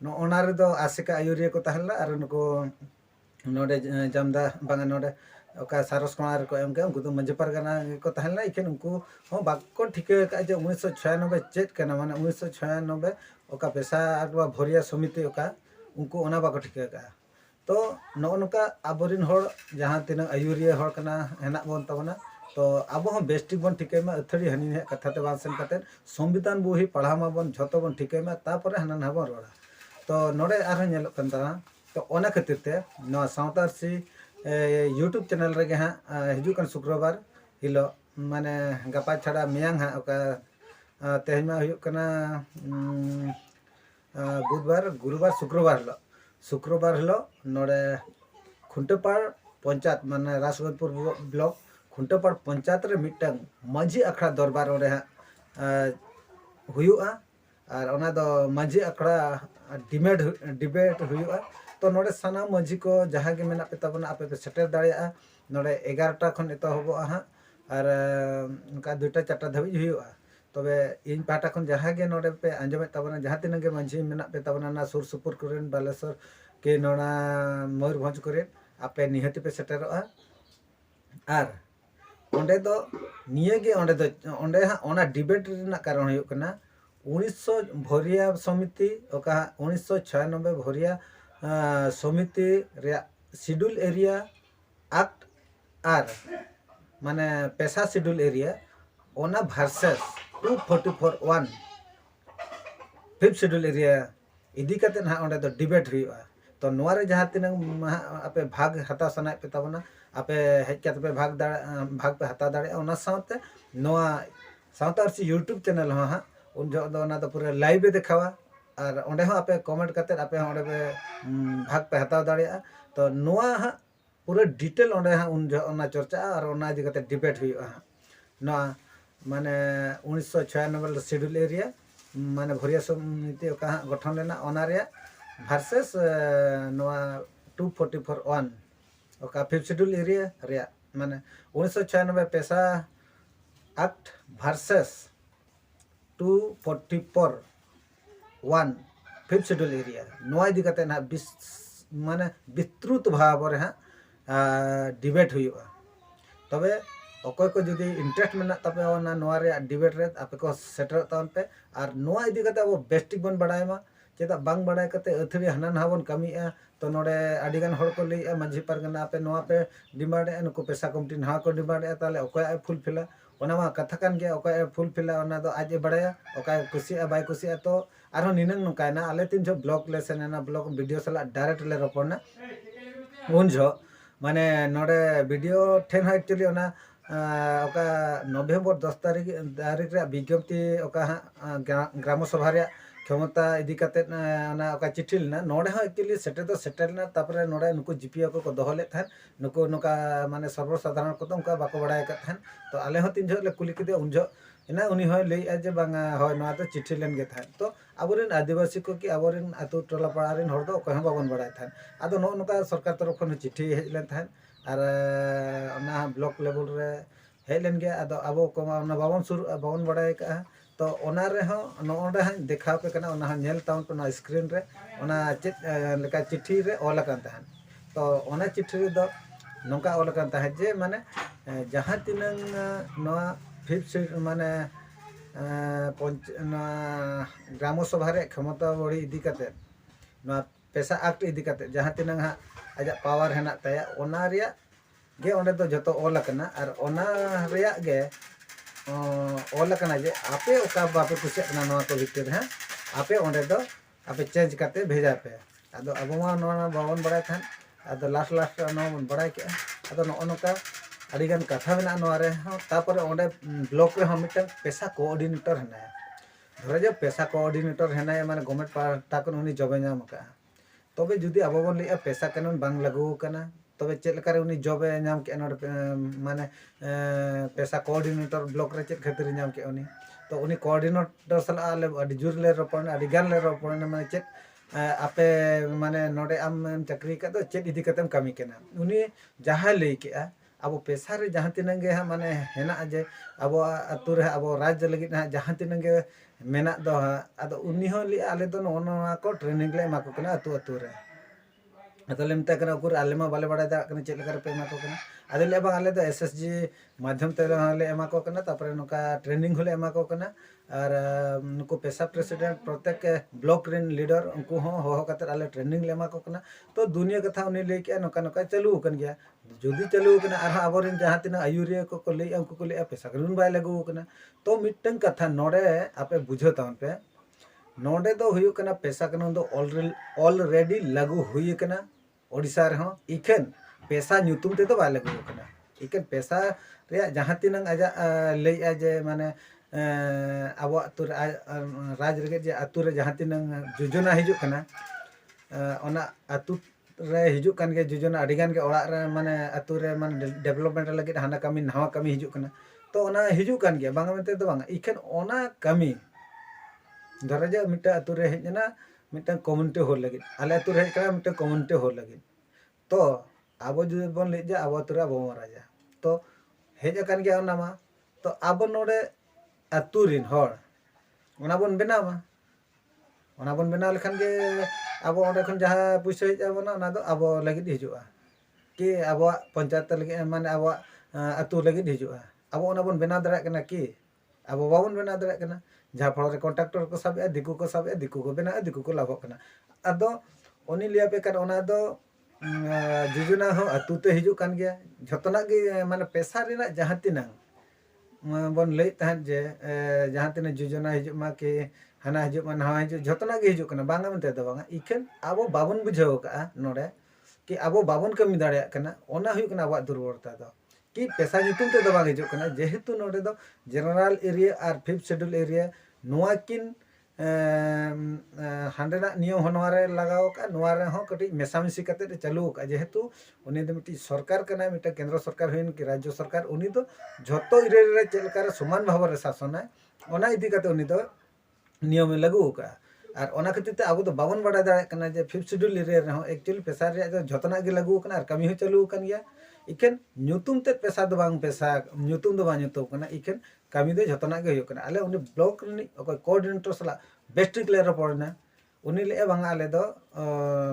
ᱱᱚᱜᱼᱚ ᱚᱱᱟ ᱨᱮᱫᱚ ᱟᱥᱮᱠᱟ ᱟᱹᱭᱩᱨᱤᱭᱟᱹ ᱠᱚ ᱛᱟᱦᱮᱸ ᱞᱮᱱᱟ ᱟᱨ ᱱᱩᱠᱩ ᱱᱚᱰᱮ ᱡᱟᱢᱫᱟ ᱵᱟᱝᱟ ᱱᱚᱰᱮ ᱚᱠᱟ ᱥᱟᱨᱚᱥ ᱠᱚᱬᱟ ᱨᱮᱠᱚ ᱮᱢ ᱠᱮᱫᱟ ᱩᱱᱠᱩ ᱫᱚ ᱢᱟᱺᱡᱷᱤ ᱯᱟᱨᱜᱟᱱᱟ ᱜᱮᱠᱚ ᱛᱟᱦᱮᱸ ᱞᱮᱱᱟ ᱤᱠᱷᱟᱹᱱ ᱩᱱᱠᱩ ᱦᱚᱸ ᱵᱟᱠᱚ ᱴᱷᱤᱠᱟᱹ ᱟᱠᱟᱫᱼᱟ ᱡᱮ ᱩᱱᱤᱥᱥᱚ ᱪᱷᱤᱭᱟᱱᱚᱵᱵᱳᱭ ᱪᱮᱫ ᱠᱟᱱᱟ ᱢᱟᱱᱮ ᱩᱱᱤᱥᱥᱚ ᱪᱷᱤᱭᱟᱱᱚᱵᱵᱳᱭ ᱚᱠᱟ ᱯᱮᱥᱟ ᱟᱠᱵᱟᱨ ᱵᱷᱚᱨᱤᱭᱟ ᱥᱚᱢᱤᱛᱤ ᱚᱠᱟ ᱩᱱᱠᱩ ᱚᱱᱟ ᱵᱟᱠᱚ ᱴᱷᱤᱠᱟᱹ ᱟᱠᱟᱫᱼᱟ ᱛᱚ ᱱᱚᱜᱼᱚ ᱱᱚᱝᱠᱟ ᱟᱵᱚᱨᱮᱱ ᱦᱚᱲ ᱡᱟᱦᱟᱸ ᱛᱤᱱᱟᱹᱜ ᱟᱹᱭᱩᱨᱤᱭᱟᱹ ᱦᱚᱲ ᱠᱟᱱᱟ ᱦᱮᱱᱟᱜ ᱵᱚᱱ ᱛᱟᱵᱚᱱᱟ ᱛᱚ ᱟᱵᱚ ᱦᱚᱸ ᱵᱮᱥ ᱴᱷᱤᱠ ᱵᱚᱱ ᱴᱷᱤᱠᱟᱹᱭ ᱢᱟ ᱟᱹᱛᱷᱟᱹᱲᱤ ᱦᱟᱹᱱᱤ ᱱᱟᱹᱭᱟᱜ ᱠᱟᱛᱷᱟ ᱛᱮ ᱵᱟᱝ ᱥᱮᱱ ᱠᱟᱛᱮᱫ ᱥᱚᱝᱵᱤᱫᱷᱟᱱ ᱵᱚᱦᱤ ᱯᱟᱲᱦᱟᱣ ᱢᱟᱵᱚᱱ ᱡᱷᱚᱛᱚ ᱵᱚᱱ ᱴᱷᱤᱠᱟᱹᱭ ᱢᱟ ᱛᱟᱨᱯᱚᱨᱮ ᱦᱟᱱᱟ ᱱᱟᱣᱟ ᱵᱚᱱ ᱨᱚᱲᱟ ᱛᱚ ᱱᱚᱰᱮ ᱟᱨᱦᱚᱸ ᱧᱮᱞᱚᱜ ᱠᱟᱱ ᱛᱟᱦᱮᱱᱟ ᱛᱚ ᱚᱱᱟ ᱠᱷᱟᱹᱛᱤᱨ ᱛᱮ ᱱᱚᱣᱟ ᱥᱟᱶᱛᱟ ᱟᱹᱨᱥᱤ ᱤᱭᱩᱴᱩᱵᱽ ᱪᱮᱱᱮᱞ ᱨᱮᱜᱮ ᱦᱟᱸᱜ ᱦᱤᱡᱩᱜ ᱠᱟᱱ ᱥᱩᱠᱨᱚᱵᱟᱨ ᱦᱤᱞᱳᱜ ᱢᱟᱱᱮ ᱜᱟᱯᱟ ᱪᱷᱟᱲᱟ ᱢᱮᱭᱟᱝ ᱦᱟᱸᱜ ᱚᱠᱟ ᱛᱮᱦᱮᱧ ᱢᱟ ᱦᱩᱭᱩᱜ ᱠᱟᱱᱟ ᱵᱩᱫᱷᱵᱟᱨ ᱜᱩᱨᱩᱵᱟᱨ ᱥᱩᱠᱨᱚᱵᱟᱨ ᱦᱤᱞᱳᱜ ᱥᱩᱠᱨᱚᱵᱟᱨ ᱦᱤᱞᱳᱜ ᱱᱚᱰᱮ ᱠᱷᱩᱱᱴᱟᱹᱯᱟᱲ ᱯᱚᱧᱪᱟᱭᱮᱛ ᱢᱟᱱᱮ ᱨᱟᱥᱜᱚᱸᱡᱽᱯᱩᱨ ᱵᱞᱚᱠ ᱠᱷᱩᱱᱴᱟᱹᱯᱟᱲ ᱯᱚᱧᱪᱟᱭᱮᱛ ᱨᱮ ᱢᱤᱫᱴᱟᱝ ᱢᱟᱺᱡᱷᱤ ᱟᱠᱷᱲᱟ ᱫᱚᱨᱵᱟᱨ ᱚᱸᱰᱮ ᱦᱟᱸᱜ ᱦᱩᱭᱩᱜᱼᱟ ᱟᱨ ᱚᱱᱟ ᱫᱚ ᱢᱟᱺᱡᱷᱤ ᱟᱠᱷᱲᱟ ᱰᱤᱢᱮᱴ ᱰᱤᱵᱮᱴ ᱦᱩᱭᱩᱜᱼᱟ ᱛᱚ ᱱᱚᱰᱮ ᱥᱟᱱᱟᱢ ᱢᱟᱺᱡᱷᱤ ᱠᱚ ᱡᱟᱦᱟᱸ ᱜᱮ ᱢᱮᱱᱟᱜ ᱯᱮ ᱛᱟᱵᱚᱱᱟ ᱟᱯᱮ ᱯᱮ ᱥᱮᱴᱮᱨ ᱫᱟᱲᱮᱭᱟᱜᱼᱟ ᱱᱚᱰᱮ ᱮᱜᱟᱨᱚᱴᱟ ᱠᱷᱚᱱ ᱮᱛᱚᱦᱚᱵᱚᱜᱼᱟ ᱦᱟᱸᱜ ᱟᱨ ᱚᱱᱠᱟ ᱫᱩᱴᱟ ᱪᱟᱨᱴᱟ ᱫᱷᱟᱹᱵᱤᱡ ᱦᱩᱭᱩᱜᱼᱟ ᱛᱚᱵᱮ ᱤᱧ ᱯᱟᱦᱴᱟ ᱠᱷᱚᱱ ᱡᱟᱦᱟᱸ ᱜᱮ ᱱᱚᱰᱮ ᱯᱮ ᱟᱸᱡᱚᱢᱮᱫ ᱛᱟᱵᱚᱱᱟ ᱡᱟᱦᱟᱸ ᱛᱤᱱᱟᱹᱜ ᱜᱮ ᱢᱟᱺᱡᱷᱤ ᱢᱮᱱᱟᱜ ᱯᱮ ᱛᱟᱵᱚᱱᱟ ᱚᱱᱟ ᱥᱩᱨ ᱥᱩᱯᱩᱨ ᱠᱚᱨᱮᱱ ᱵᱟᱞᱮᱥᱚᱨ ᱠᱤ ᱱᱚᱣᱟ ᱢᱚᱭᱩᱨᱵᱷᱚᱸᱡᱽ ᱠᱚᱨᱮ ᱟᱯᱮ ᱱᱤᱦᱟᱹᱛ ᱯᱮ ᱥᱮᱴᱮᱨᱚᱜᱼᱟ ᱟᱨ ᱚᱸᱰᱮ ᱫᱚ ᱱᱤᱭᱟᱹ ᱜᱮ ᱚᱸᱰᱮ ᱫᱚ ᱚᱸᱰᱮ ᱦᱟᱸᱜ ᱚᱱᱟ ᱰᱤᱵᱮᱴ ᱨᱮᱱᱟᱜ ᱠᱟᱨᱚᱱ ᱦᱩᱭᱩᱜ ᱠᱟᱱᱟ ᱩᱱᱤᱥᱥᱚ ᱵᱷᱚᱨᱤᱭᱟ ᱥᱚᱢᱤᱛᱤ ᱚᱠᱟ ᱦᱟᱸᱜ ᱩᱱᱤᱥᱥᱚ ᱪᱷᱚᱭᱟᱱᱚᱵᱵᱳᱭ ᱵᱷᱚᱨᱤᱭᱟ ᱥᱚᱢᱤᱛᱤ ᱨᱮᱭᱟᱜ ᱥᱤᱰᱩᱞ ᱮᱨᱤᱭᱟ ᱟᱠᱴ ᱟᱨ ᱢᱟᱱᱮ ᱯᱮᱥᱟ ᱥᱤᱰᱩᱞ ᱮᱨᱤᱭᱟ ᱚᱱᱟ versus two forty four one fifth schedule area ᱤᱫᱤ ᱠᱟᱛᱮ ᱱᱟᱦᱟᱜ ᱚᱸᱰᱮ ᱫᱚ ᱰᱤᱵᱮᱴ ᱦᱩᱭᱩᱜᱼᱟ ᱛᱚ ᱱᱚᱣᱟ ᱨᱮ ᱡᱟᱦᱟᱸ ᱛᱤᱱᱟᱹᱜ ᱱᱟᱦᱟᱜ ᱟᱯᱮ ᱵᱷᱟᱜᱽ ᱦᱟᱛᱟᱣ ᱥᱟᱱᱟᱭᱮᱫ ᱯᱮ ᱛᱟᱵᱚᱱᱟ ᱟᱯᱮ ᱦᱮᱡ ᱠᱟᱛᱮ ᱯᱮ ᱵᱷᱟᱜᱽ ᱫᱟᱲᱮᱭᱟᱜᱼᱟ ᱵᱷᱟᱜᱽ ᱯᱮ ᱦᱟᱛᱟᱣ ᱫᱟᱲᱮᱭᱟᱜᱼᱟ ᱚᱱᱟ ᱥᱟᱶᱛᱮ ᱱᱚᱣᱟ ᱥᱟᱶᱛᱟ ᱟᱹᱨᱥᱤ ᱤᱭᱩᱴᱩᱵᱽ ᱪᱮᱱᱮᱞ ᱦᱚᱸ ᱦᱟᱸᱜ ᱩᱱ ᱡᱚᱦᱚᱜ ᱫᱚ ᱚᱱᱟ ᱫᱚ ᱯᱩᱨᱟᱹ ᱞᱟᱭᱤᱵᱷ ᱮ ᱫᱮᱠᱷᱟᱣᱟ ᱟᱨ ᱚᱸᱰᱮ ᱦᱚᱸ ᱟᱯᱮ ᱠᱚᱢᱮᱱᱴ ᱠᱟᱛᱮ ᱟᱯᱮ ᱦᱚᱸ ᱚᱸᱰᱮ ᱯᱮ ᱵᱷᱟᱜᱽ ᱯᱮ ᱦᱟᱛᱟᱣ ᱫᱟᱲᱮᱭᱟᱜᱼᱟ ᱛᱚ ᱱᱚᱣᱟ ᱦᱟᱸᱜ ᱯᱩᱨᱟᱹ ᱰᱤᱴᱮᱞ ᱚᱸᱰᱮ ᱦᱟᱸᱜ ᱩᱱ ᱡᱚᱦᱚᱜ ᱚᱱᱟ ᱪᱚᱨᱪᱟᱜᱼᱟ ᱟᱨ ᱚᱱᱟ ᱤᱫᱤ ᱠᱟᱛᱮ ᱰᱤᱵᱮᱴ ᱦᱩᱭᱩᱜᱼᱟ ᱦᱟᱸᱜ ᱱᱚᱣᱟ ᱢᱟᱱᱮ ᱩᱱᱤᱥᱥᱚ ᱪᱷᱚᱭᱟᱱᱚᱵᱵᱚᱭ ᱨᱮ ᱥᱤᱰᱩᱞ ᱮᱨᱤᱭᱟ ᱢᱟᱱᱮ ᱵᱷᱚᱨᱤᱭᱟ ᱥᱚᱢᱤᱛᱤ ᱚᱠᱟ ᱦᱟᱸᱜ ᱜᱚᱴᱷᱚᱱ ᱞᱮᱱᱟ ᱚᱱᱟ ᱨᱮᱭᱟᱜ ᱵᱷᱟᱨᱥᱮᱥ ᱱᱚᱣᱟ ᱴᱩ ᱯᱷᱳᱨᱴᱤ ᱯᱷᱳᱨ ᱚᱣᱟᱱ ᱚᱠᱟ ᱯᱷᱤᱯ ᱥᱤᱰᱩᱞ ᱮᱨᱤᱭᱟ ᱨᱮᱭᱟᱜ ᱢᱟᱱᱮ ᱩᱱᱤᱥᱥᱚ ᱪᱷᱚᱭᱟᱱᱚᱵᱵᱚᱭ PESA act versus two forty four one fifth schedule area ᱱᱚᱣᱟ ᱤᱫᱤ ᱠᱟᱛᱮ ᱱᱟᱦᱟᱜ ᱵᱤᱥ ᱢᱟᱱᱮ ᱵᱤᱥᱛᱨᱩᱛ ᱵᱷᱟᱵᱽ ᱨᱮ ᱦᱟᱸᱜ ᱰᱤᱵᱮᱴ ᱦᱩᱭᱩᱜᱼᱟ ᱛᱚᱵᱮ ᱚᱠᱚᱭ ᱠᱚ ᱡᱩᱫᱤ ᱤᱱᱴᱟᱨᱮᱥᱴ ᱢᱮᱱᱟᱜ ᱛᱟᱯᱮᱭᱟ ᱚᱱᱟ ᱱᱚᱣᱟ ᱨᱮᱭᱟᱜ ᱰᱤᱵᱮᱴ ᱨᱮ ᱟᱯᱮ ᱠᱚ ᱥᱮᱴᱮᱨᱚᱜ ᱛᱟᱵᱚᱱ ᱯᱮ ᱟᱨ ᱱᱚᱣᱟ ᱤᱫᱤ ᱠᱟᱛᱮ ᱟᱵᱚ ᱵᱮᱥᱴᱷᱤᱠ ᱵᱚᱱ ᱵᱟᱲᱟᱭ ᱢᱟ ᱪᱮᱫᱟᱜ ᱵᱟᱝ ᱵᱟᱲᱟᱭ ᱠᱟᱛᱮ ᱟᱹᱛᱷᱟᱹᱲᱤ ᱦᱟᱱᱟ ᱱᱟᱣᱟ ᱵᱚᱱ ᱠᱟᱹᱢᱤᱭᱮᱜᱼᱟ ᱛᱚ ᱱᱚᱰᱮ ᱟᱹᱰᱤ ᱜᱟᱱ ᱦᱚᱲ ᱠᱚ ᱞᱟᱹᱭᱮᱜᱼᱟ ᱢᱟᱹᱡᱷᱤ ᱯᱟᱨᱜᱟᱱᱟ ᱟᱯᱮ ᱱᱚᱣᱟ ᱯᱮ ᱰᱤᱢᱟᱱᱰᱮᱜᱼᱟ ᱱᱩᱠᱩ ᱯᱮᱥᱟ ᱠᱚᱢᱤᱴᱤ ᱱᱟᱣᱟ ᱠᱚ ᱰᱤᱢᱟᱱᱰᱮᱜᱼᱟ ᱛᱟᱦᱚᱞᱮ ᱚᱠᱚᱭᱟᱜ ᱮ ᱯᱷᱩᱞᱯᱷᱤᱞᱟ ᱚᱱᱟ ᱢᱟ ᱠᱟᱛᱷᱟ ᱠᱟᱱ ᱜᱮᱭᱟ ᱚᱠᱚᱭ ᱮ ᱯᱷᱩᱞ ᱯᱷᱤᱞᱟ ᱚᱱᱟ ᱫᱚ ᱟᱡ ᱮ ᱵᱟᱲᱟᱭᱟ ᱚᱠᱚᱭ ᱠᱩᱥᱤᱜᱼᱟ ᱵᱟᱭ ᱠᱩᱥᱤᱜᱼᱟ ᱛᱚ ᱟᱨᱦᱚᱸ ᱱᱤᱱᱟᱹᱝ ᱱᱚᱝᱠᱟᱭᱮᱱᱟ ᱟᱞᱮ ᱛᱤᱱ ᱡᱚᱦᱚᱜ ᱵᱞᱚᱜ ᱞᱮ ᱥᱮᱱ ᱮᱱᱟ ᱵᱞᱚᱜ ᱵᱷᱤᱰᱤᱭᱳ ᱥᱟᱞᱟᱜ ᱰᱟᱭᱨᱮᱠᱴ ᱞᱮ ᱨᱚᱯᱚᱲᱱᱟ ᱩᱱ ᱡᱚᱦᱚᱜ ᱢᱟᱱᱮ ᱱᱚᱰᱮ ᱵᱷᱤᱰᱤᱭᱳ ᱴᱷᱮᱱ ᱦᱚᱸ ᱮᱠᱪᱩᱭᱮᱞᱤ ᱚᱱᱟ ᱚᱠᱟ ᱱᱚᱵᱷᱮᱢᱵᱚᱨ ᱫᱚᱥ ᱛᱟᱹᱨᱤᱠᱷ ᱛᱟᱹᱨᱤᱠᱷ ᱨᱮᱭᱟᱜ ᱵᱤᱜᱽᱜᱚᱯᱛᱤ ᱚᱠᱟ ᱦᱟᱸᱜ ᱜᱨᱟᱢᱚ ᱥᱚᱵᱷᱟ ᱨᱮᱭᱟᱜ ᱠᱷᱚᱢᱚᱛᱟ ᱤᱫᱤ ᱠᱟᱛᱮᱫ ᱚᱱᱟ ᱚᱠᱟ ᱪᱤᱴᱷᱤ ᱞᱮᱱᱟ ᱱᱚᱰᱮ ᱦᱚᱸ ᱮᱠᱪᱩᱭᱮᱞᱤ ᱥᱮᱴᱮᱨ ᱫᱚ ᱥᱮᱴᱮᱨ ᱞᱮᱱᱟ ᱛᱟᱨᱯᱚᱨᱮ ᱱᱚᱰᱮ ᱱᱩᱠᱩ ᱡᱤᱯᱤᱭᱳ ᱠᱚᱠᱚ ᱫᱚᱦᱚ ᱞᱮᱫ ᱛᱟᱦᱮᱸᱫ ᱱᱩᱠᱩ ᱱᱚᱝᱠᱟ ᱢᱟᱱᱮ ᱥᱚᱨᱵᱚ ᱥᱟᱫᱷᱟᱨᱚᱱ ᱠᱚᱫᱚ ᱚᱱᱠᱟ ᱵᱟᱠᱚ ᱵᱟᱲᱟᱭ ᱟᱠᱟᱫ ᱛᱟᱦᱮᱸᱫ ᱛᱚ ᱟᱞᱮ ᱦᱚᱸ ᱛᱤᱱ ᱡᱚᱦᱚᱜ ᱞᱮ ᱠᱩᱞᱤ ᱠᱮᱫᱮᱭᱟ ᱩᱱ ᱡᱚᱦᱚᱜ ᱤᱱᱟᱹ ᱩᱱᱤ ᱦᱚᱸᱭ ᱞᱟᱹᱭᱮᱫᱼᱟ ᱡᱮ ᱵᱟᱝᱟ ᱦᱳᱭ ᱱᱚᱣᱟ ᱫᱚ ᱪᱤᱴᱷᱤ ᱞᱮᱱ ᱜᱮ ᱛᱟᱦᱮᱸᱫ ᱛᱚ ᱟᱵᱚ ᱨᱮᱱ ᱟᱹᱫᱤᱵᱟᱹᱥᱤ ᱠᱚ ᱠᱤ ᱟᱵᱚ ᱨᱮᱱ ᱟᱛᱳ ᱴᱚᱞᱟ ᱯᱟᱲᱟ ᱨᱮᱱ ᱦᱚᱲ ᱫᱚ ᱚᱠᱚᱭ ᱦᱚᱸ ᱵᱟᱵᱚᱱ ᱵᱟᱲᱟᱭ ᱛᱟᱦᱮᱸᱫ ᱟᱫᱚ ᱱᱚᱜᱼᱚ ᱱᱚᱝᱠᱟ ᱥᱚᱨᱠᱟᱨ ᱛᱚᱨᱚᱯᱷ ᱠᱷᱚᱱ ᱪᱤᱴᱷᱤ ᱦᱮᱡ ᱞᱮᱱ ᱛᱟᱦᱮᱸᱫ ᱟᱨ ᱚᱱᱟ ᱵᱞᱚᱠ ᱞᱮᱵᱮᱞ ᱨᱮ ᱦᱮᱡ ᱞᱮᱱ ᱜᱮᱭᱟ ᱟᱫᱚ ᱟᱵᱚ ᱠᱚᱢᱟ ᱚᱱᱟ ᱵᱟᱵᱚᱱ ᱥᱩᱨᱩᱜᱼᱟ ᱵᱟᱵᱚᱱ ᱵᱟᱰᱟᱭ ᱟᱠᱟᱫᱼᱟ ᱛᱚ ᱚᱱᱟ ᱨᱮᱦᱚᱸ ᱱᱚᱜᱼᱚ ᱱᱚᱰᱮ ᱦᱟᱸᱜ ᱤᱧ ᱫᱮᱠᱷᱟᱣ ᱟᱯᱮ ᱠᱟᱱᱟ ᱚᱱᱟ ᱦᱚᱸ ᱧᱮᱞ ᱛᱟᱵᱚᱱ ᱯᱮ ᱱᱚᱣᱟ ᱥᱠᱨᱤᱱ ᱨᱮ ᱚᱱᱟ ᱪᱮᱫ ᱞᱮᱠᱟ ᱪᱤᱴᱷᱤ ᱨᱮ ᱚᱞ ᱟᱠᱟᱱ ᱛᱟᱦᱮᱸᱫ ᱛᱚ ᱚᱱᱟ ᱪᱤᱴᱷᱤ ᱨᱮᱫᱚ ᱱᱚᱝᱠᱟ ᱚᱞ ᱟᱠᱟᱱ ᱛᱟᱦᱮᱸᱫ ᱡᱮ ᱢᱟᱱᱮ ᱡᱟᱦᱟᱸ ᱛᱤᱱᱟᱹᱝ ᱱᱚᱣᱟ ᱯᱷᱤᱯᱛᱷ ᱥᱤᱴ ᱢᱟᱱᱮ ᱱᱚᱣᱟ ᱜᱨᱟᱢᱚ ᱥᱚᱵᱷᱟ ᱨᱮᱭᱟᱜ ᱠᱷᱚᱢᱚᱛᱟ ᱵᱟᱹᱲᱤ ᱤᱫᱤ ᱠᱟᱛᱮᱫ ᱱᱚᱣᱟ ᱯᱮᱥᱟ ᱟᱠᱴ ᱤᱫᱤ ᱠᱟᱛᱮᱫ ᱡᱟᱦᱟᱸ ᱛᱤᱱᱟᱹᱝ ᱦᱟᱸᱜ ᱟᱡᱟᱜ ᱯᱟᱣᱟᱨ ᱦᱮᱱᱟᱜ ᱛᱟᱭᱟ ᱚᱱᱟ ᱨᱮᱭᱟᱜ ᱜᱮ ᱚᱸᱰᱮ ᱫᱚ ᱡᱚᱛᱚ ᱚᱞ ᱟᱠᱟᱱᱟ ᱟᱨ ᱚᱱᱟ ᱨᱮᱭᱟᱜ ᱜᱮ ᱚᱞ ᱟᱠᱟᱱᱟ ᱡᱮ ᱟᱯᱮ ᱚᱠᱟ ᱵᱟᱯᱮ ᱠᱩᱥᱤᱭᱟᱜ ᱠᱟᱱᱟ ᱱᱚᱣᱟ ᱠᱚ ᱵᱷᱤᱛᱤᱨ ᱨᱮ ᱦᱟᱸᱜ ᱟᱯᱮ ᱚᱸᱰᱮ ᱫᱚ ᱟᱯᱮ ᱪᱮᱧᱡᱽ ᱠᱟᱛᱮ ᱵᱷᱮᱡᱟᱭ ᱯᱮ ᱟᱫᱚ ᱟᱵᱚ ᱢᱟ ᱱᱚᱣᱟ ᱢᱟ ᱵᱟᱵᱚᱱ ᱵᱟᱲᱟᱭ ᱛᱟᱦᱮᱸᱫ ᱟᱫᱚ ᱞᱟᱥ ᱞᱟᱥ ᱨᱮ ᱚᱱᱟ ᱢᱟᱵᱚᱱ ᱵᱟᱲᱟᱭ ᱠᱮᱜᱼᱟ ᱟᱫᱚ ᱱᱚᱜᱼᱚ ᱱᱚᱝᱠᱟ ᱟᱹᱰᱤ ᱜᱟᱱ ᱠᱟᱛᱷᱟ ᱢᱮᱱᱟᱜᱼᱟ ᱱᱚᱣᱟ ᱨᱮ ᱦᱚᱸ ᱛᱟᱨᱯᱚᱨᱮ ᱚᱸᱰᱮ ᱵᱞᱚᱠ ᱨᱮ ᱦᱚᱸ ᱢᱤᱫᱴᱟᱝ ᱯᱮᱥᱟ ᱠᱳᱼᱚᱰᱤᱱᱮᱴᱚᱨ ᱦᱮᱱᱟᱭᱟ ᱫᱷᱚᱨᱚ ᱡᱮ ᱯᱮᱥᱟ ᱠᱳᱼᱚᱰᱤᱱᱮᱴᱚᱨ ᱦᱮᱱᱟᱭᱟ ᱢᱟᱱᱮ ᱜᱚᱵᱷᱢᱮᱱᱴ ᱯᱟᱦᱴᱟ ᱠᱷᱚᱱ ᱩᱱᱤ ᱡᱚᱵᱮ ᱧᱟᱢ ᱟᱠᱟᱫᱼᱟ ᱛᱚᱵᱮ ᱡᱩᱫᱤ ᱟᱵᱚ ᱵᱚᱱ ᱞᱟᱹᱭᱮᱜᱼᱟ ᱯᱮᱥᱟ ᱠᱟᱹᱱᱩᱱ ᱵᱟᱝ ᱞᱟᱹᱜᱩ ᱟᱠᱟᱱᱟ ᱛᱚᱵᱮ ᱪᱮᱫ ᱞᱮᱠᱟᱨᱮ ᱩᱱᱤ ᱡᱚᱵᱮ ᱧᱟᱢ ᱠᱮᱜᱼᱟ ᱱᱚᱰᱮ ᱢᱟᱱᱮ ᱯᱮᱥᱟ ᱠᱳᱨᱰᱤᱱᱮᱴᱚᱨ ᱵᱞᱚᱠ ᱨᱮ ᱪᱮᱫ ᱠᱷᱟᱹᱛᱤᱨ ᱧᱟᱢ ᱠᱮᱜᱼᱟ ᱩᱱᱤ ᱛᱚ ᱩᱱᱤ ᱠᱳᱨᱰᱤᱱᱮᱴᱚᱨ ᱥᱟᱞᱟᱜ ᱟᱞᱮ ᱟᱹᱰᱤ ᱡᱳᱨ ᱞᱮ ᱨᱚᱯᱚᱲᱮᱱᱟ ᱟᱹᱰᱤ ᱜᱟᱱ ᱞᱮ ᱨᱚᱯᱚᱲᱮᱱᱟ ᱢᱟᱱᱮ ᱪᱮᱫ ᱟᱯᱮ ᱢᱟᱱᱮ ᱱᱚᱰᱮ ᱟᱢᱮᱢ ᱪᱟᱹᱠᱨᱤ ᱟᱠᱟᱫ ᱫᱚ ᱪᱮᱫ ᱤᱫᱤ ᱠᱟᱛᱮᱢ ᱠᱟᱹᱢᱤ ᱠᱟᱱᱟ ᱩᱱᱤ ᱡᱟᱦᱟᱸᱭ ᱞᱟᱹᱭ ᱠᱮᱜᱼᱟ ᱟᱵᱚ ᱯᱮᱥᱟ ᱨᱮ ᱡᱟᱦᱟᱸ ᱛᱤᱱᱟᱹᱜ ᱜᱮ ᱦᱟᱸᱜ ᱢᱟᱱᱮ ᱦᱮᱱᱟᱜᱼᱟ ᱡᱮ ᱟᱵᱚᱣᱟᱜ ᱟᱛᱳ ᱨᱮ ᱟᱵᱚ ᱨᱟᱡᱽ ᱞᱟᱹᱜᱤᱫ ᱦᱟᱸᱜ ᱡᱟᱦᱟᱸ ᱛᱤᱱᱟᱹᱜ ᱜᱮ ᱢᱮᱱᱟᱜ ᱫᱚ ᱦᱟᱸᱜ ᱟᱫᱚ ᱩᱱᱤ ᱦᱚᱸ ᱞᱟᱹᱭᱮᱜᱼᱟ ᱟᱞᱮ ᱫᱚ ᱱᱚᱜᱼᱚ ᱱᱚᱣᱟ ᱠᱚ ᱴᱨᱮᱱᱤᱝ ᱞᱮ ᱮᱢᱟ ᱠᱚ ᱠᱟᱱᱟ ᱟᱛᱳ ᱟᱛᱳ ᱨᱮ ᱟᱫᱚ ᱞᱮ ᱢᱮᱛᱟᱭ ᱠᱟᱱᱟ ᱩᱠᱩᱨ ᱟᱞᱮ ᱢᱟ ᱵᱟᱞᱮ ᱵᱟᱲᱟᱭ ᱫᱟᱲᱮᱭᱟᱜ ᱠᱟᱱᱟ ᱪᱮᱫ ᱞᱮᱠᱟ ᱨᱮᱯᱮ ᱮᱢᱟ ᱠᱚ ᱠᱟᱱᱟ ᱟᱫᱚᱭ ᱞᱟᱹᱭᱮᱜᱼᱟ ᱵᱟᱝ ᱟᱞᱮ ᱫᱚ ᱮᱥ ᱮᱥ ᱡᱤ ᱢᱟᱫᱽᱫᱷᱚᱢ ᱛᱮ ᱨᱮᱦᱚᱸ ᱞᱮ ᱮᱢᱟ ᱠᱚ ᱠᱟᱱᱟ ᱛᱟᱨᱯᱚᱨᱮ ᱱᱚᱝᱠᱟ ᱴᱨᱮᱱᱤᱝ ᱦᱚᱸᱞᱮ ᱮᱢᱟ ᱠᱚ ᱠᱟᱱᱟ ᱟᱨ ᱱᱩᱠᱩ ᱯᱮᱥᱟ ᱯᱨᱮᱥᱤᱰᱮᱱᱴ ᱯᱨᱚᱛᱮᱠ ᱵᱞᱚᱠ ᱨᱮᱱ ᱞᱤᱰᱟᱨ ᱩᱱᱠᱩ ᱦᱚᱸ ᱦᱚᱦᱚ ᱠᱟᱛᱮ ᱟᱞᱮ ᱴᱨᱮᱱᱤᱝ ᱞᱮ ᱮᱢᱟ ᱠᱚ ᱠᱟᱱᱟ ᱛᱚ ᱫᱩᱱᱤᱭᱟᱹ ᱠᱟᱛᱷᱟ ᱩᱱᱤ ᱞᱟᱹᱭ ᱠᱮᱜᱼᱟ ᱱᱚᱝᱠᱟ ᱱᱚᱝᱠᱟ ᱪᱟᱹᱞᱩ ᱟᱠᱟᱱ ᱜᱮᱭᱟ ᱡᱩᱫᱤ ᱪᱟᱹᱞᱩ ᱟᱠᱟᱱᱟ ᱟᱨᱦᱚᱸ ᱟᱵᱚᱨᱮᱱ ᱡᱟᱦᱟᱸ ᱛᱤᱱᱟᱹᱜ ᱟᱹᱭᱩᱨᱤᱭᱟᱹ ᱠᱚᱠᱚ ᱞᱟᱹᱭᱮᱜᱼᱟ ᱩᱱᱠᱩ ᱠᱚ ᱞᱟᱹᱭᱮᱜᱼᱟ ᱦᱟᱯᱮ ᱥᱟᱜᱟᱲᱚᱢ ᱵᱟᱭ ᱞᱟᱹᱜᱩ ᱟᱠᱟᱱᱟ ᱛᱚ ᱢᱤᱫᱴᱟᱝ ᱠᱟᱛᱷᱟ ᱱᱚᱰᱮ ᱟᱯᱮ ᱵᱩᱡᱷᱟᱹᱣ ᱛᱟᱵᱚᱱ ᱯᱮ ᱱᱚᱰᱮ ᱫᱚ ᱦᱩᱭᱩᱜ ᱠᱟᱱᱟ ᱯᱮᱥᱟ ᱠᱟᱹᱱᱩᱱ ᱫᱚ ᱚᱞᱨᱮᱰᱤ ᱞᱟᱹᱜᱩ ᱦᱩᱭ ᱟᱠᱟᱱᱟ ᱳᱰᱤᱥᱟ ᱨᱮᱦᱚᱸ ᱤᱠᱷᱟᱹᱱ ᱯᱮᱥᱟ ᱧᱩᱛᱩᱢ ᱛᱮᱫᱚ ᱵᱟᱭ ᱞᱟᱹᱜᱩ ᱟᱠᱟᱱᱟ ᱤᱠᱷᱟᱹᱱ ᱯᱮᱥᱟ ᱨᱮᱭᱟᱜ ᱡᱟᱦᱟᱸ ᱛᱤᱱᱟᱹᱜ ᱟᱡᱟᱜ ᱞᱟᱹᱭᱮᱜᱼᱟ ᱡᱮ ᱢᱟᱱᱮ ᱟᱵᱚ ᱟᱛᱳ ᱨᱮ ᱨᱟᱡᱽ ᱨᱮᱜᱮᱡ ᱡᱮ ᱟᱛᱳ ᱨᱮ ᱡᱟᱦᱟᱸ ᱛᱤᱱᱟᱹᱜ ᱡᱳᱡᱚᱱᱟ ᱦᱤᱡᱩᱜ ᱠᱟᱱᱟ ᱚᱱᱟ ᱟᱛᱳ ᱨᱮ ᱦᱤᱡᱩᱜ ᱠᱟᱱ ᱜᱮᱭᱟ ᱡᱳᱡᱚᱱᱟ ᱟᱹᱰᱤ ᱜᱟᱱ ᱜᱮ ᱚᱲᱟᱜ ᱨᱮ ᱢᱟᱱᱮ ᱟᱛᱳ ᱨᱮ ᱢᱟᱱᱮ ᱰᱮᱵᱷᱞᱚᱯᱢᱮᱱᱴ ᱞᱟᱹᱜᱤᱫ ᱦᱟᱱᱟ ᱠᱟᱹᱢᱤ ᱱᱟᱣᱟ ᱠᱟᱹᱢᱤ ᱦᱤᱡᱩᱜ ᱠᱟᱱᱟ ᱛᱚ ᱚᱱᱟ ᱦᱤᱡᱩᱜ ᱠᱟᱱ ᱜᱮᱭᱟ ᱵᱟᱝᱟ ᱢᱮᱱᱛᱮ ᱫᱚ ᱵᱟᱝᱟ ᱤᱠᱷᱟᱹᱱ ᱚᱱᱟ ᱠᱟᱹᱢᱤ ᱫᱷᱚᱨᱚ ᱡᱮ ᱢᱤᱫᱴᱟᱝ ᱟᱛᱳ ᱨᱮ ᱦᱮᱡ ᱮᱱᱟ ᱢᱤᱫᱴᱟᱝ ᱠᱚᱢᱤᱱᱤᱴᱤ ᱦᱚᱲ ᱞᱟᱹᱜᱤᱫ ᱟᱞᱮ ᱟᱛᱳ ᱨᱮ ᱦᱮᱡ ᱠᱟᱱᱟ ᱢᱤᱫᱴᱟᱝ ᱠᱚᱢᱤᱱᱤᱴᱤ ᱦᱚᱲ ᱞᱟᱹᱜᱤᱫ ᱛᱚ ᱟᱵᱚ ᱡᱩᱫᱤ ᱵᱚᱱ ᱞᱟᱹᱭ ᱡᱮ ᱟᱵᱚ ᱟᱛᱳ ᱨᱮ ᱟᱵᱚ ᱵᱚᱱ ᱨᱟᱡᱟ ᱛᱚ ᱦᱮᱡ ᱟᱠᱟᱱ ᱜᱮᱭᱟ ᱚᱱᱟ ᱢᱟ ᱛᱚ ᱟᱵᱚ ᱱᱚᱰᱮ ᱟᱛᱳ ᱨᱮᱱ ᱦᱚᱲ ᱚᱱᱟ ᱵᱚᱱ ᱵᱮᱱᱟᱣᱟ ᱚᱱᱟ ᱵᱚᱱ ᱵᱮᱱᱟᱣ ᱞᱮᱠᱷᱟᱱ ᱜᱮ ᱟᱵᱚ ᱚᱸᱰᱮ ᱠᱷᱚᱱ ᱡᱟᱦᱟᱸ ᱯᱩᱭᱥᱟᱹ ᱦᱮᱡ ᱟᱵᱚᱱᱟ ᱚᱱᱟ ᱫᱚ ᱟᱵᱚ ᱞᱟᱹᱜᱤᱫ ᱦᱤᱡᱩᱜᱼᱟ ᱠᱤ ᱟᱵᱚᱣᱟᱜ ᱯᱚᱧᱪᱟᱭᱮᱛ ᱞᱟᱹᱜᱤᱫ ᱢᱟᱱᱮ ᱟᱵᱚᱣᱟᱜ ᱟᱛᱳ ᱞᱟᱹᱜᱤᱫ ᱦᱤᱡᱩᱜᱼᱟ ᱟᱵᱚ ᱚᱱᱟ ᱵᱚᱱ ᱵᱮᱱᱟᱣ ᱫᱟᱲᱮᱭᱟᱜ ᱠᱟᱱᱟ ᱠᱤ ᱟᱵᱚ ᱵᱟᱵᱚᱱ ᱵᱮᱱᱟᱣ ᱫᱟᱲᱮᱭᱟᱜ ᱠᱟᱱᱟ ᱡᱟᱦᱟᱸ ᱯᱷᱚᱲᱚ ᱨᱮ ᱠᱚᱱᱴᱟᱠᱴᱚᱨ ᱠᱚ ᱥᱟᱵᱮᱜᱼᱟ ᱫᱤᱠᱩ ᱠᱚ ᱥᱟᱵᱮᱜᱼᱟ ᱫᱤᱠᱩ ᱠᱚ ᱵᱮᱱᱟᱣᱮᱜᱼᱟ ᱫᱤᱠᱩ ᱠᱚ ᱞᱟᱵᱷᱚᱜ ᱠᱟᱱᱟ ᱟᱫᱚ ᱩᱱᱤ ᱞᱟᱹᱭᱟᱯᱮ ᱠᱟᱱᱟ ᱚᱱᱟ ᱫᱚ ᱡᱳᱡᱚᱱᱟ ᱦᱚᱸ ᱟᱛᱳ ᱛᱮ ᱦᱤᱡᱩᱜ ᱠᱟᱱ ᱜᱮᱭᱟ ᱡᱷᱚᱛᱚᱱᱟᱜ ᱜᱮ ᱢᱟᱱᱮ ᱯᱚᱭᱥᱟ ᱨᱮᱱᱟᱜ ᱡᱟᱦᱟᱸ ᱛᱤᱱᱟᱹᱜ ᱵᱚᱱ ᱞᱟᱹᱭᱮᱫ ᱛᱟᱦᱮᱸᱫ ᱡᱮ ᱡᱟᱦᱟᱸ ᱛᱤᱱᱟᱹᱜ ᱡᱳᱡᱚᱱᱟ ᱦᱤᱡᱩᱜ ᱢᱟ ᱠᱤ ᱦᱟᱱᱟ ᱦᱤᱡᱩᱜ ᱢᱟ ᱱᱟᱣᱟ ᱦᱤᱡᱩᱜ ᱡᱷᱚᱛᱚᱱᱟᱜ ᱜᱮ ᱦᱤᱡᱩᱜ ᱠᱟᱱᱟ ᱵᱟᱝᱟ ᱢᱮᱱᱛᱮ ᱫᱚ ᱵᱟᱝᱟ ᱤᱠᱷᱟᱹᱱ ᱟᱵᱚ ᱵᱟᱵᱚᱱ ᱵᱩᱡᱷᱟᱹᱣ ᱠᱟᱜᱼᱟ ᱱᱚᱰᱮ ᱠᱤ ᱟᱵᱚ ᱵᱟᱵᱚᱱ ᱠᱟᱹᱢᱤ ᱫᱟᱲᱮᱭᱟᱜ ᱠᱟᱱᱟ ᱚᱱᱟ ᱦᱩᱭᱩᱜ ᱠᱟᱱᱟ ᱟᱵᱚᱣᱟᱜ ᱫᱩᱨᱵᱚᱞᱛᱟ ᱫᱚ ᱠᱤ ᱯᱚᱭᱥᱟ ᱧᱩᱛᱩᱢ ᱛᱮᱫᱚ ᱵᱟᱝ ᱦᱤᱡᱩᱜ ᱠᱟᱱᱟ ᱡᱮᱦᱮᱛᱩ ᱱᱚᱰᱮ ᱫᱚ ᱡᱮᱱᱟᱨᱮᱞ ᱮᱨᱤᱭᱟ ᱟᱨ ᱯᱷᱤᱯᱛᱷ ᱥᱤᱰᱩᱞ ᱮᱨᱤᱭᱟ ᱱᱚᱣᱟ ᱠᱤᱱ ᱦᱟᱸᱰᱮᱱᱟᱜ ᱱᱤᱭᱚᱢ ᱦᱚᱸ ᱱᱚᱣᱟ ᱨᱮ ᱞᱟᱜᱟᱣ ᱟᱠᱟᱫᱼᱟ ᱱᱚᱣᱟ ᱨᱮᱦᱚᱸ ᱠᱟᱹᱴᱤᱡ ᱢᱮᱥᱟ ᱢᱤᱥᱤ ᱠᱟᱛᱮᱫ ᱮ ᱪᱟᱹᱞᱩ ᱟᱠᱟᱫᱼᱟ ᱡᱮᱦᱮᱛᱩ ᱩᱱᱤ ᱫᱚ ᱢᱤᱫᱴᱤᱡ ᱥᱚᱨᱠᱟᱨ ᱠᱟᱱᱟᱭ ᱢᱤᱫᱴᱮᱱ ᱠᱮᱱᱫᱨᱚ ᱥᱚᱨᱠᱟᱨ ᱦᱩᱭᱮᱱ ᱠᱤ ᱨᱟᱡᱽᱡᱚ ᱥᱚᱨᱠᱟᱨ ᱩᱱᱤ ᱫᱚ ᱡᱷᱚᱛᱚ ᱮᱨᱤᱭᱟ ᱨᱮ ᱪᱮᱫ ᱞᱮᱠᱟ ᱨᱮ ᱥᱚᱢᱟᱱ ᱵᱷᱟᱵᱮ ᱨᱮ ᱥᱟᱥᱚᱱᱟᱭ ᱚᱱᱟ ᱤᱫᱤ ᱠᱟᱛᱮᱫ ᱩᱱᱤ ᱫᱚ ᱱᱤᱭᱚᱢᱮ ᱞᱟᱹᱜᱩ ᱟᱠᱟᱫᱼᱟ ᱟᱨ ᱚᱱᱟ ᱠᱷᱟᱹᱛᱤᱨ ᱛᱮ ᱟᱵᱚ ᱫᱚ ᱵᱟᱵᱚᱱ ᱵᱟᱰᱟᱭ ᱫᱟᱲᱮᱭᱟᱜ ᱠᱟᱱᱟ ᱡᱮ ᱯᱷᱤᱯᱛᱷ ᱥᱤᱰᱩᱞ ᱮᱨᱤᱭᱟ ᱨᱮᱦᱚᱸ ᱮᱠᱪᱩᱭᱮᱞᱤ ᱯᱮᱥᱟ ᱨᱮᱭᱟᱜ ᱫᱚ ᱡᱷᱚᱛᱚᱱᱟᱜ ᱜᱮ ᱞᱟᱹᱜᱩ ᱟᱠᱟᱱᱟ ᱟᱨ ᱠᱟᱹᱢᱤ ᱦᱚᱸ ᱪᱟᱹᱞᱩ ᱟᱠᱟᱱ ᱜᱮᱭᱟ ᱤᱠᱷᱟᱹᱱ ᱧᱩᱛᱩᱢ ᱛᱮᱫ ᱯᱮᱥᱟ ᱫᱚ ᱵᱟᱝ ᱯᱮᱥᱟ ᱧᱩᱛᱩᱢ ᱫᱚ ᱵᱟᱝ ᱧᱩᱛᱩᱢ ᱠᱟᱱᱟ ᱤᱠᱷᱟᱹᱱ ᱠᱟᱹᱢᱤ ᱫᱚ ᱡᱚᱛᱚᱱᱟᱜ ᱜᱮ ᱦᱩᱭᱩᱜ ᱠᱟᱱᱟ ᱟᱞᱮ ᱩᱱᱤ ᱵᱞᱚᱠ ᱨᱤᱱᱤᱡ ᱚᱠᱚᱭ ᱠᱳᱨᱰᱤᱱᱮᱴᱚᱨ ᱥᱟᱞᱟᱜ ᱵᱮᱥ ᱴᱷᱤᱠ ᱞᱮ ᱨᱚᱯᱚᱲ ᱮᱱᱟ ᱩᱱᱤ ᱞᱟᱹᱭᱮᱫᱼᱟ ᱵᱟᱝᱟ ᱟᱞᱮ ᱫᱚ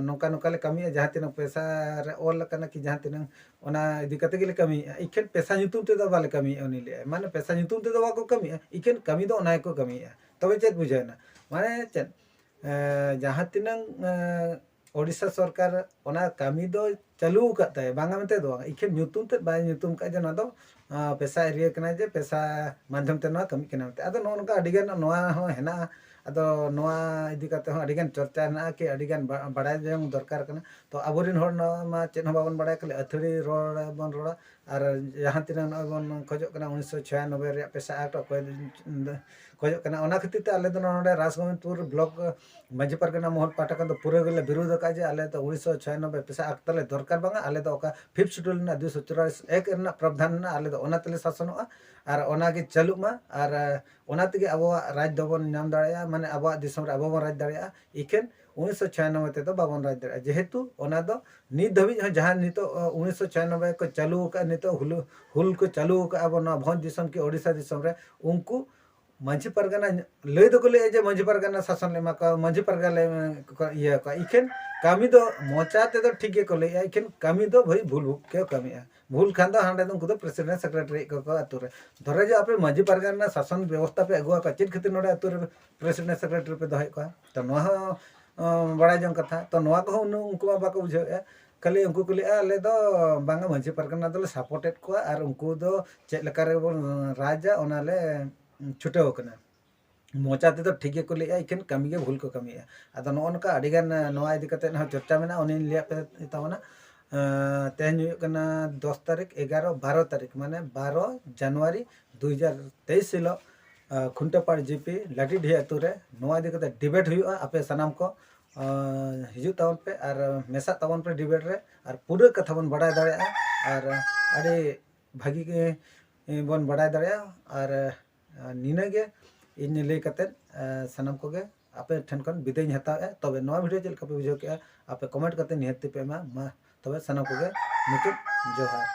ᱱᱚᱝᱠᱟ ᱱᱚᱝᱠᱟ ᱞᱮ ᱠᱟᱹᱢᱤᱭᱮᱫᱼᱟ ᱡᱟᱦᱟᱸ ᱛᱤᱱᱟᱹᱜ ᱯᱚᱭᱥᱟ ᱨᱮ ᱚᱞ ᱟᱠᱟᱱᱟ ᱠᱤ ᱡᱟᱦᱟᱸ ᱛᱤᱱᱟᱹᱜ ᱚᱱᱟ ᱤᱫᱤ ᱠᱟᱛᱮᱫ ᱜᱮᱞᱮ ᱠᱟᱹᱢᱤᱭᱮᱫᱼᱟ ᱤᱠᱷᱟᱹᱱ ᱯᱚᱭᱥᱟ ᱧᱩᱛᱩᱢ ᱛᱮᱫᱚ ᱵᱟᱞᱮ ᱠᱟᱹᱢᱤᱭᱮᱫᱼᱟ ᱩᱱᱤ ᱞᱟᱹᱭᱮᱫᱼᱟᱭ ᱢᱟᱱᱮ ᱯᱚᱭᱥᱟ ᱧᱩᱛᱩᱢ ᱛᱮᱫᱚ ᱵᱟᱠᱚ ᱠᱟᱹᱢᱤᱭᱮᱫᱼᱟ ᱤᱠᱷᱟᱹᱱ ᱠᱟᱹᱢᱤ ᱫᱚ ᱚᱱᱟ ᱜᱮᱠᱚ ᱠᱟᱹᱢᱤᱭᱮᱫᱼᱟ ᱛᱚᱵᱮ ᱪᱮᱫ ᱵᱩᱡᱷᱟᱹᱣᱮᱱᱟ ᱢᱟᱱᱮ ᱪᱮᱫ ᱡᱟᱦᱟᱸ ᱛᱤᱱᱟᱹᱜ ᱳᱰᱤᱥᱟ ᱥᱚᱨᱠᱟᱨ ᱚᱱᱟ ᱠᱟᱹᱢᱤ ᱫᱚ ᱪᱟᱹᱞᱩ ᱟᱠᱟᱫ ᱛᱟᱭᱟ ᱵᱟᱝᱟ ᱢᱮᱱᱛᱮ ᱫᱚ ᱵᱟᱝ ᱤᱠᱷᱟᱹᱱ ᱧᱩᱛᱩᱢ ᱛᱮᱫ ᱵᱟᱭ ᱧᱩᱛᱩᱢ ᱟᱠᱟᱫᱼᱟ ᱡᱮ ᱱᱚᱣᱟ ᱫᱚ ᱯᱮᱥᱟ ᱮᱨᱤᱭᱟ ᱠᱟᱱᱟ ᱡᱮ ᱯᱮᱥᱟ ᱢᱟᱫᱽᱫᱷᱚᱢ ᱛᱮ ᱱᱚᱣᱟ ᱠᱟᱹᱢᱤᱜ ᱠᱟᱱᱟ ᱢᱮᱱᱛᱮ ᱟᱫᱚ ᱱᱚᱜᱼᱚ ᱱᱚᱝᱠᱟ ᱟᱹᱰᱤ ᱜᱟᱱ ᱱᱚᱣᱟ ᱦᱚᱸ ᱦᱮᱱᱟᱜᱼᱟ ᱟᱫᱚ ᱱᱚᱣᱟ ᱤᱫᱤ ᱠᱟᱛᱮᱫ ᱦᱚᱸ ᱟᱹᱰᱤ ᱜᱟᱱ ᱪᱚᱨᱪᱟ ᱦᱮᱱᱟᱜᱼᱟ ᱠᱤ ᱟᱹᱰᱤ ᱜᱟᱱ ᱵᱟᱲᱟᱭ ᱡᱚᱝ ᱫᱚᱨᱠᱟᱨ ᱠᱟᱱᱟ ᱛᱚ ᱟᱵᱚ ᱨᱮᱱ ᱦᱚᱲ ᱱᱚᱣᱟ ᱢᱟ ᱪᱮᱫ ᱦᱚᱸ ᱵᱟᱵᱚᱱ ᱵᱟᱲᱟᱭᱟ ᱠᱷᱟᱹᱞᱤ ᱟᱹᱛᱷᱟᱹᱲᱤ ᱨᱚᱲ ᱵᱚᱱ ᱨᱚᱲᱟ ᱟᱨ ᱡᱟᱦᱟᱸ ᱛᱤᱱᱟᱹᱜ ᱱᱚᱜᱼᱚᱭ ᱵᱚᱱ ᱠᱷᱚᱡᱚᱜ ᱠᱟᱱᱟ ᱩᱱᱤᱥᱥᱚ ᱪᱷᱤᱭᱟᱱᱚᱵᱵᱳᱭ ᱨᱮᱭᱟᱜ ᱯᱮᱥᱟ ᱮᱠᱴ ᱚᱠᱚᱭ ᱠᱷᱚᱡᱚᱜ ᱠᱟᱱᱟ ᱚᱱᱟ ᱠᱷᱟᱹᱛᱤᱨ ᱛᱮ ᱟᱞᱮ ᱫᱚ ᱱᱚᱰᱮ ᱨᱟᱡᱽᱜᱳᱵᱤᱱᱫᱽᱯᱩᱨ ᱵᱞᱚᱠ ᱢᱟᱹᱡᱷᱤ ᱯᱟᱨᱜᱟᱱᱟ ᱢᱚᱦᱚᱞ ᱯᱟᱦᱴᱟ ᱠᱷᱚᱱ ᱫᱚ ᱯᱩᱨᱟᱹ ᱜᱮᱞᱮ ᱵᱤᱨᱩᱫᱷ ᱟᱠᱟᱫᱼᱟ ᱡᱮ ᱟᱞᱮ ᱫᱚ ᱩᱱᱤᱥᱥᱚ ᱪᱷᱤᱭᱟᱱᱚᱵᱽᱵᱳᱭ ᱯᱮᱥᱟ ᱮᱠᱴ ᱛᱟᱞᱮ ᱫᱚᱨᱠᱟᱨ ᱵᱟᱝᱟ ᱟᱞᱮ ᱫᱚ ᱚᱠᱟ ᱯᱷᱤᱯᱛᱷ ᱥᱤᱰᱩᱞ ᱨᱮᱱᱟᱜ ᱫᱩᱭᱥᱚ ᱪᱩᱨᱟᱞᱤᱥ ᱮᱠ ᱨᱮᱱᱟᱜ ᱯᱨᱚᱵᱽᱫᱷᱟᱱ ᱢᱮᱱᱟᱜᱼᱟ ᱟᱞᱮ ᱫᱚ ᱚᱱᱟ ᱛᱮᱞᱮ ᱥᱟᱥᱚᱱᱚᱜᱼᱟ ᱟᱨ ᱚᱱᱟ ᱜᱮ ᱪᱟᱹᱞᱩᱜ ᱢᱟ ᱟᱨ ᱚᱱᱟ ᱛᱮᱜᱮ ᱟᱵᱚᱣᱟᱜ ᱨᱟᱡᱽ ᱫᱚᱵᱚᱱ ᱧᱟᱢ ᱫᱟᱲᱮᱭᱟᱜᱼᱟ ᱢᱟᱱᱮ ᱟᱵᱚᱣᱟᱜ ᱫᱤᱥᱚᱢ ᱨᱮ ᱟᱵᱚ ᱵᱚᱱ ᱨᱟᱡᱽ ᱫᱟᱲᱮᱭᱟᱜᱼᱟ ᱤᱠᱷᱟᱹᱱ ᱩᱱᱤᱥᱥᱚ ᱪᱷᱤᱭᱟᱱᱚᱵᱽᱵᱳᱭ ᱛᱮᱫᱚ ᱵᱟᱵᱚᱱ ᱨᱟᱡᱽ ᱫᱟᱲᱮᱭᱟᱜᱼᱟ ᱡᱮᱦᱮᱛᱩ ᱚᱱᱟ ᱫᱚ ᱱᱤᱛ ᱫᱷᱟᱹᱵᱤᱡ ᱦᱚᱸ ᱡᱟᱦᱟᱸ ᱱᱤᱛᱳᱜ ᱩᱱᱤᱥᱥᱚ ᱪᱷᱤᱭᱟᱱᱚᱵᱽᱵᱳᱭ ᱠᱚ ᱪᱟᱹᱞᱩ ᱟᱠᱟᱫᱼᱟ ᱱᱤᱛᱳᱜ ᱦᱩᱞ ᱦᱩᱞ ᱠᱚ ᱪᱟᱹᱞᱩ ᱟᱠᱟᱫᱼᱟ ᱵᱚᱱ ᱱᱚᱣᱟ ᱵᱷᱚᱸᱡᱽ ᱫᱤᱥᱚᱢ ᱠᱤ ᱳᱰᱤᱥᱟ ᱫᱤᱥᱚᱢ ᱨᱮ ᱩᱱᱠᱩ ᱢᱟᱹᱡᱷᱤ ᱯᱟᱨᱜᱟᱱᱟ ᱞᱟᱹᱭ ᱫᱚᱠᱚ ᱞᱟᱹᱭᱮᱫᱼᱟ ᱡᱮ ᱢᱟᱹᱡᱷᱤ ᱯᱟᱨᱜᱟᱱᱟ ᱥᱟᱥᱚᱱ ᱞᱮ ᱮᱢᱟ ᱠᱚᱣᱟ ᱢᱟᱹᱡᱷᱤ ᱯᱟᱨᱜᱟᱱᱟ ᱞᱮ ᱤᱭᱟᱹ ᱠᱚᱣᱟ ᱤᱠᱷᱟᱹᱱ ᱠᱟᱹᱢᱤ ᱫᱚ ᱢᱚᱪᱟ ᱛᱮᱫᱚ ᱴᱷᱤᱠ ᱜᱮᱠᱚ ᱞᱟᱹᱭᱮᱫᱼᱟ ᱤᱠᱷᱟᱹᱱ ᱠᱟᱹᱢᱤ ᱫᱚ ᱵᱷᱟᱹᱭ ᱵᱷᱩᱞ ᱠᱚ ᱠᱟᱹᱢᱤᱭᱮᱫᱼᱟ ᱵᱷᱩᱞ ᱠᱷᱟᱱ ᱫᱚ ᱦᱟᱸᱰᱮ ᱫᱚ ᱩᱱᱠᱩ ᱫᱚ ᱯᱨᱮᱥᱤᱰᱮᱱᱴ ᱥᱮᱠᱨᱮᱴᱟᱨᱤ ᱠᱚᱠᱚ ᱟᱹᱛᱩ ᱨᱮ ᱫᱷᱚᱨᱮ ᱡᱮ ᱟᱯᱮ ᱢᱟᱹᱡᱷᱤ ᱯᱟᱨᱜᱟᱱᱟ ᱥᱟᱥᱚᱱ ᱵᱮᱵᱚᱥᱛᱷᱟ ᱯᱮ ᱟᱹᱜᱩ ᱟᱠᱟᱫ ᱪᱮᱫ ᱠᱷᱟᱹᱛᱤᱨ ᱱᱚᱰᱮ ᱟᱹᱛᱩ ᱨᱮ ᱯᱨᱮᱥᱤᱰᱮᱱᱴ ᱥᱮᱠᱨᱮᱴᱟᱨᱤ ᱯᱮ ᱫᱚᱦᱚᱭᱮᱫ ᱠᱚᱣᱟ ᱛᱚ ᱱᱚᱣᱟ ᱦᱚᱸ ᱵᱟᱲᱟᱭ ᱡᱚᱝ ᱠᱟᱛᱷᱟ ᱛᱚ ᱱᱚᱣᱟ ᱠᱚᱦᱚᱸ ᱩᱱᱠᱩ ᱢᱟ ᱵᱟᱠᱚ ᱵᱩᱡᱷᱟᱹᱣᱮᱫᱼᱟ ᱠᱷᱟᱹᱞᱤ ᱩᱱᱠᱩ ᱠᱚ ᱞᱟᱹᱭᱮᱜᱼᱟ ᱟᱞᱮ ᱫᱚ ᱵᱟᱝᱟ ᱢᱟᱺᱡᱷᱤ ᱯᱟᱨᱜᱟᱱᱟ ᱫᱚᱞᱮ ᱥᱟᱯᱳᱨᱴᱮᱫ ᱠᱚᱣᱟ ᱟᱨ ᱩᱱᱠᱩ ᱫᱚ ᱪᱮᱫ ᱞᱮᱠᱟ ᱨᱮᱵᱚᱱ ᱨᱟᱡᱟ ᱚᱱᱟᱞᱮ ᱪᱷᱩᱴᱟᱹᱣ ᱟᱠᱟᱱᱟ ᱢᱚᱪᱟ ᱛᱮᱫᱚ ᱴᱷᱤᱠ ᱜᱮᱠᱚ ᱞᱟᱹᱭᱮᱜᱼᱟ ᱮᱠᱷᱮᱱ ᱠᱟᱹᱢᱤ ᱜᱮ ᱵᱷᱩᱞ ᱠᱚ ᱠᱟᱹᱢᱤᱭᱮᱜᱼᱟ ᱟᱫᱚ ᱱᱚᱜᱼᱚ ᱱᱚᱝᱠᱟ ᱟᱹᱰᱤ ᱜᱟᱱ ᱱᱚᱣᱟ ᱤᱫᱤ ᱠᱟᱛᱮ ᱦᱚᱸ ᱪᱚᱨᱪᱟ ᱢᱮᱱᱟᱜᱼᱟ ᱩᱱᱤᱧ ᱞᱟᱹᱭᱟᱫ ᱯᱮ ᱛᱟᱵᱚᱱᱟ ᱛᱮᱦᱮᱧ ᱦᱩᱭᱩᱜ ᱠᱟᱱᱟ ᱫᱚᱥ ᱛᱟᱹᱨᱤᱠᱷ ᱮᱜᱟᱨᱚ ᱵᱟᱨᱚ ᱛᱟᱹᱨᱤᱠᱷ ᱢᱟᱱᱮ ᱵᱟᱨᱚ ᱡᱟᱱᱩᱣᱟᱨᱤ ᱫᱩ ᱦᱟᱡᱟᱨ ᱛᱮᱭᱤᱥ ᱦᱤᱞᱳᱜ ᱠᱷᱩᱱᱴᱟᱹᱯᱟᱲ ᱡᱤᱯᱤ ᱞᱟᱹᱴᱤᱰᱤᱦᱟᱹ ᱟᱛᱳ ᱨᱮ ᱱᱚᱣᱟ ᱤᱫᱤ ᱠᱟᱛᱮ ᱰᱤᱵᱮᱴ ᱦᱩᱭᱩᱜᱼᱟ ᱟᱯᱮ ᱥᱟᱱᱟᱢ ᱠᱚ ᱦᱤᱡᱩᱜ ᱛᱟᱵᱚᱱ ᱯᱮ ᱟᱨ ᱢᱮᱥᱟᱜ ᱛᱟᱵᱚᱱ ᱯᱮ ᱰᱤᱵᱮᱴ ᱨᱮ ᱟᱨ ᱯᱩᱨᱟᱹ ᱠᱟᱛᱷᱟ ᱵᱚᱱ ᱵᱟᱰᱟᱭ ᱫᱟᱲᱮᱭᱟᱜᱼᱟ ᱟᱨ ᱟᱹᱰᱤ ᱵᱷᱟᱹᱜᱤ ᱜᱮ ᱵᱚᱱ ᱵᱟᱰᱟᱭ ᱫᱟᱲᱮᱭᱟᱜᱼᱟ ᱟᱨ ᱱᱤᱱᱟᱹ ᱜᱮ ᱤᱧ ᱞᱟᱹᱭ ᱠᱟᱛᱮᱫ ᱥᱟᱱᱟᱢ ᱠᱚᱜᱮ ᱟᱯᱮ ᱴᱷᱮᱱ ᱠᱷᱚᱱ ᱵᱤᱫᱟᱹᱭᱤᱧ ᱦᱟᱛᱟᱣᱮᱜᱼᱟ ᱛᱚᱵᱮ ᱱᱚᱣᱟ ᱵᱷᱤᱰᱤᱭᱳ ᱪᱮᱫ ᱞᱮᱠᱟ ᱯᱮ ᱵᱩᱡᱷᱟᱹᱣ ᱠᱮᱜᱼᱟ ᱟᱯᱮ ᱠᱚᱢᱮᱱᱴ ᱠᱟᱛᱮᱫ ᱱᱤᱦᱟᱹᱛ ᱛᱮᱯᱮ ᱮᱢᱟ ᱢᱟ ᱛᱚᱵᱮ ᱥᱟᱱᱟᱢ ᱠᱚᱜᱮ ᱢᱩᱪᱟᱹᱫ ᱡᱚᱦᱟᱨ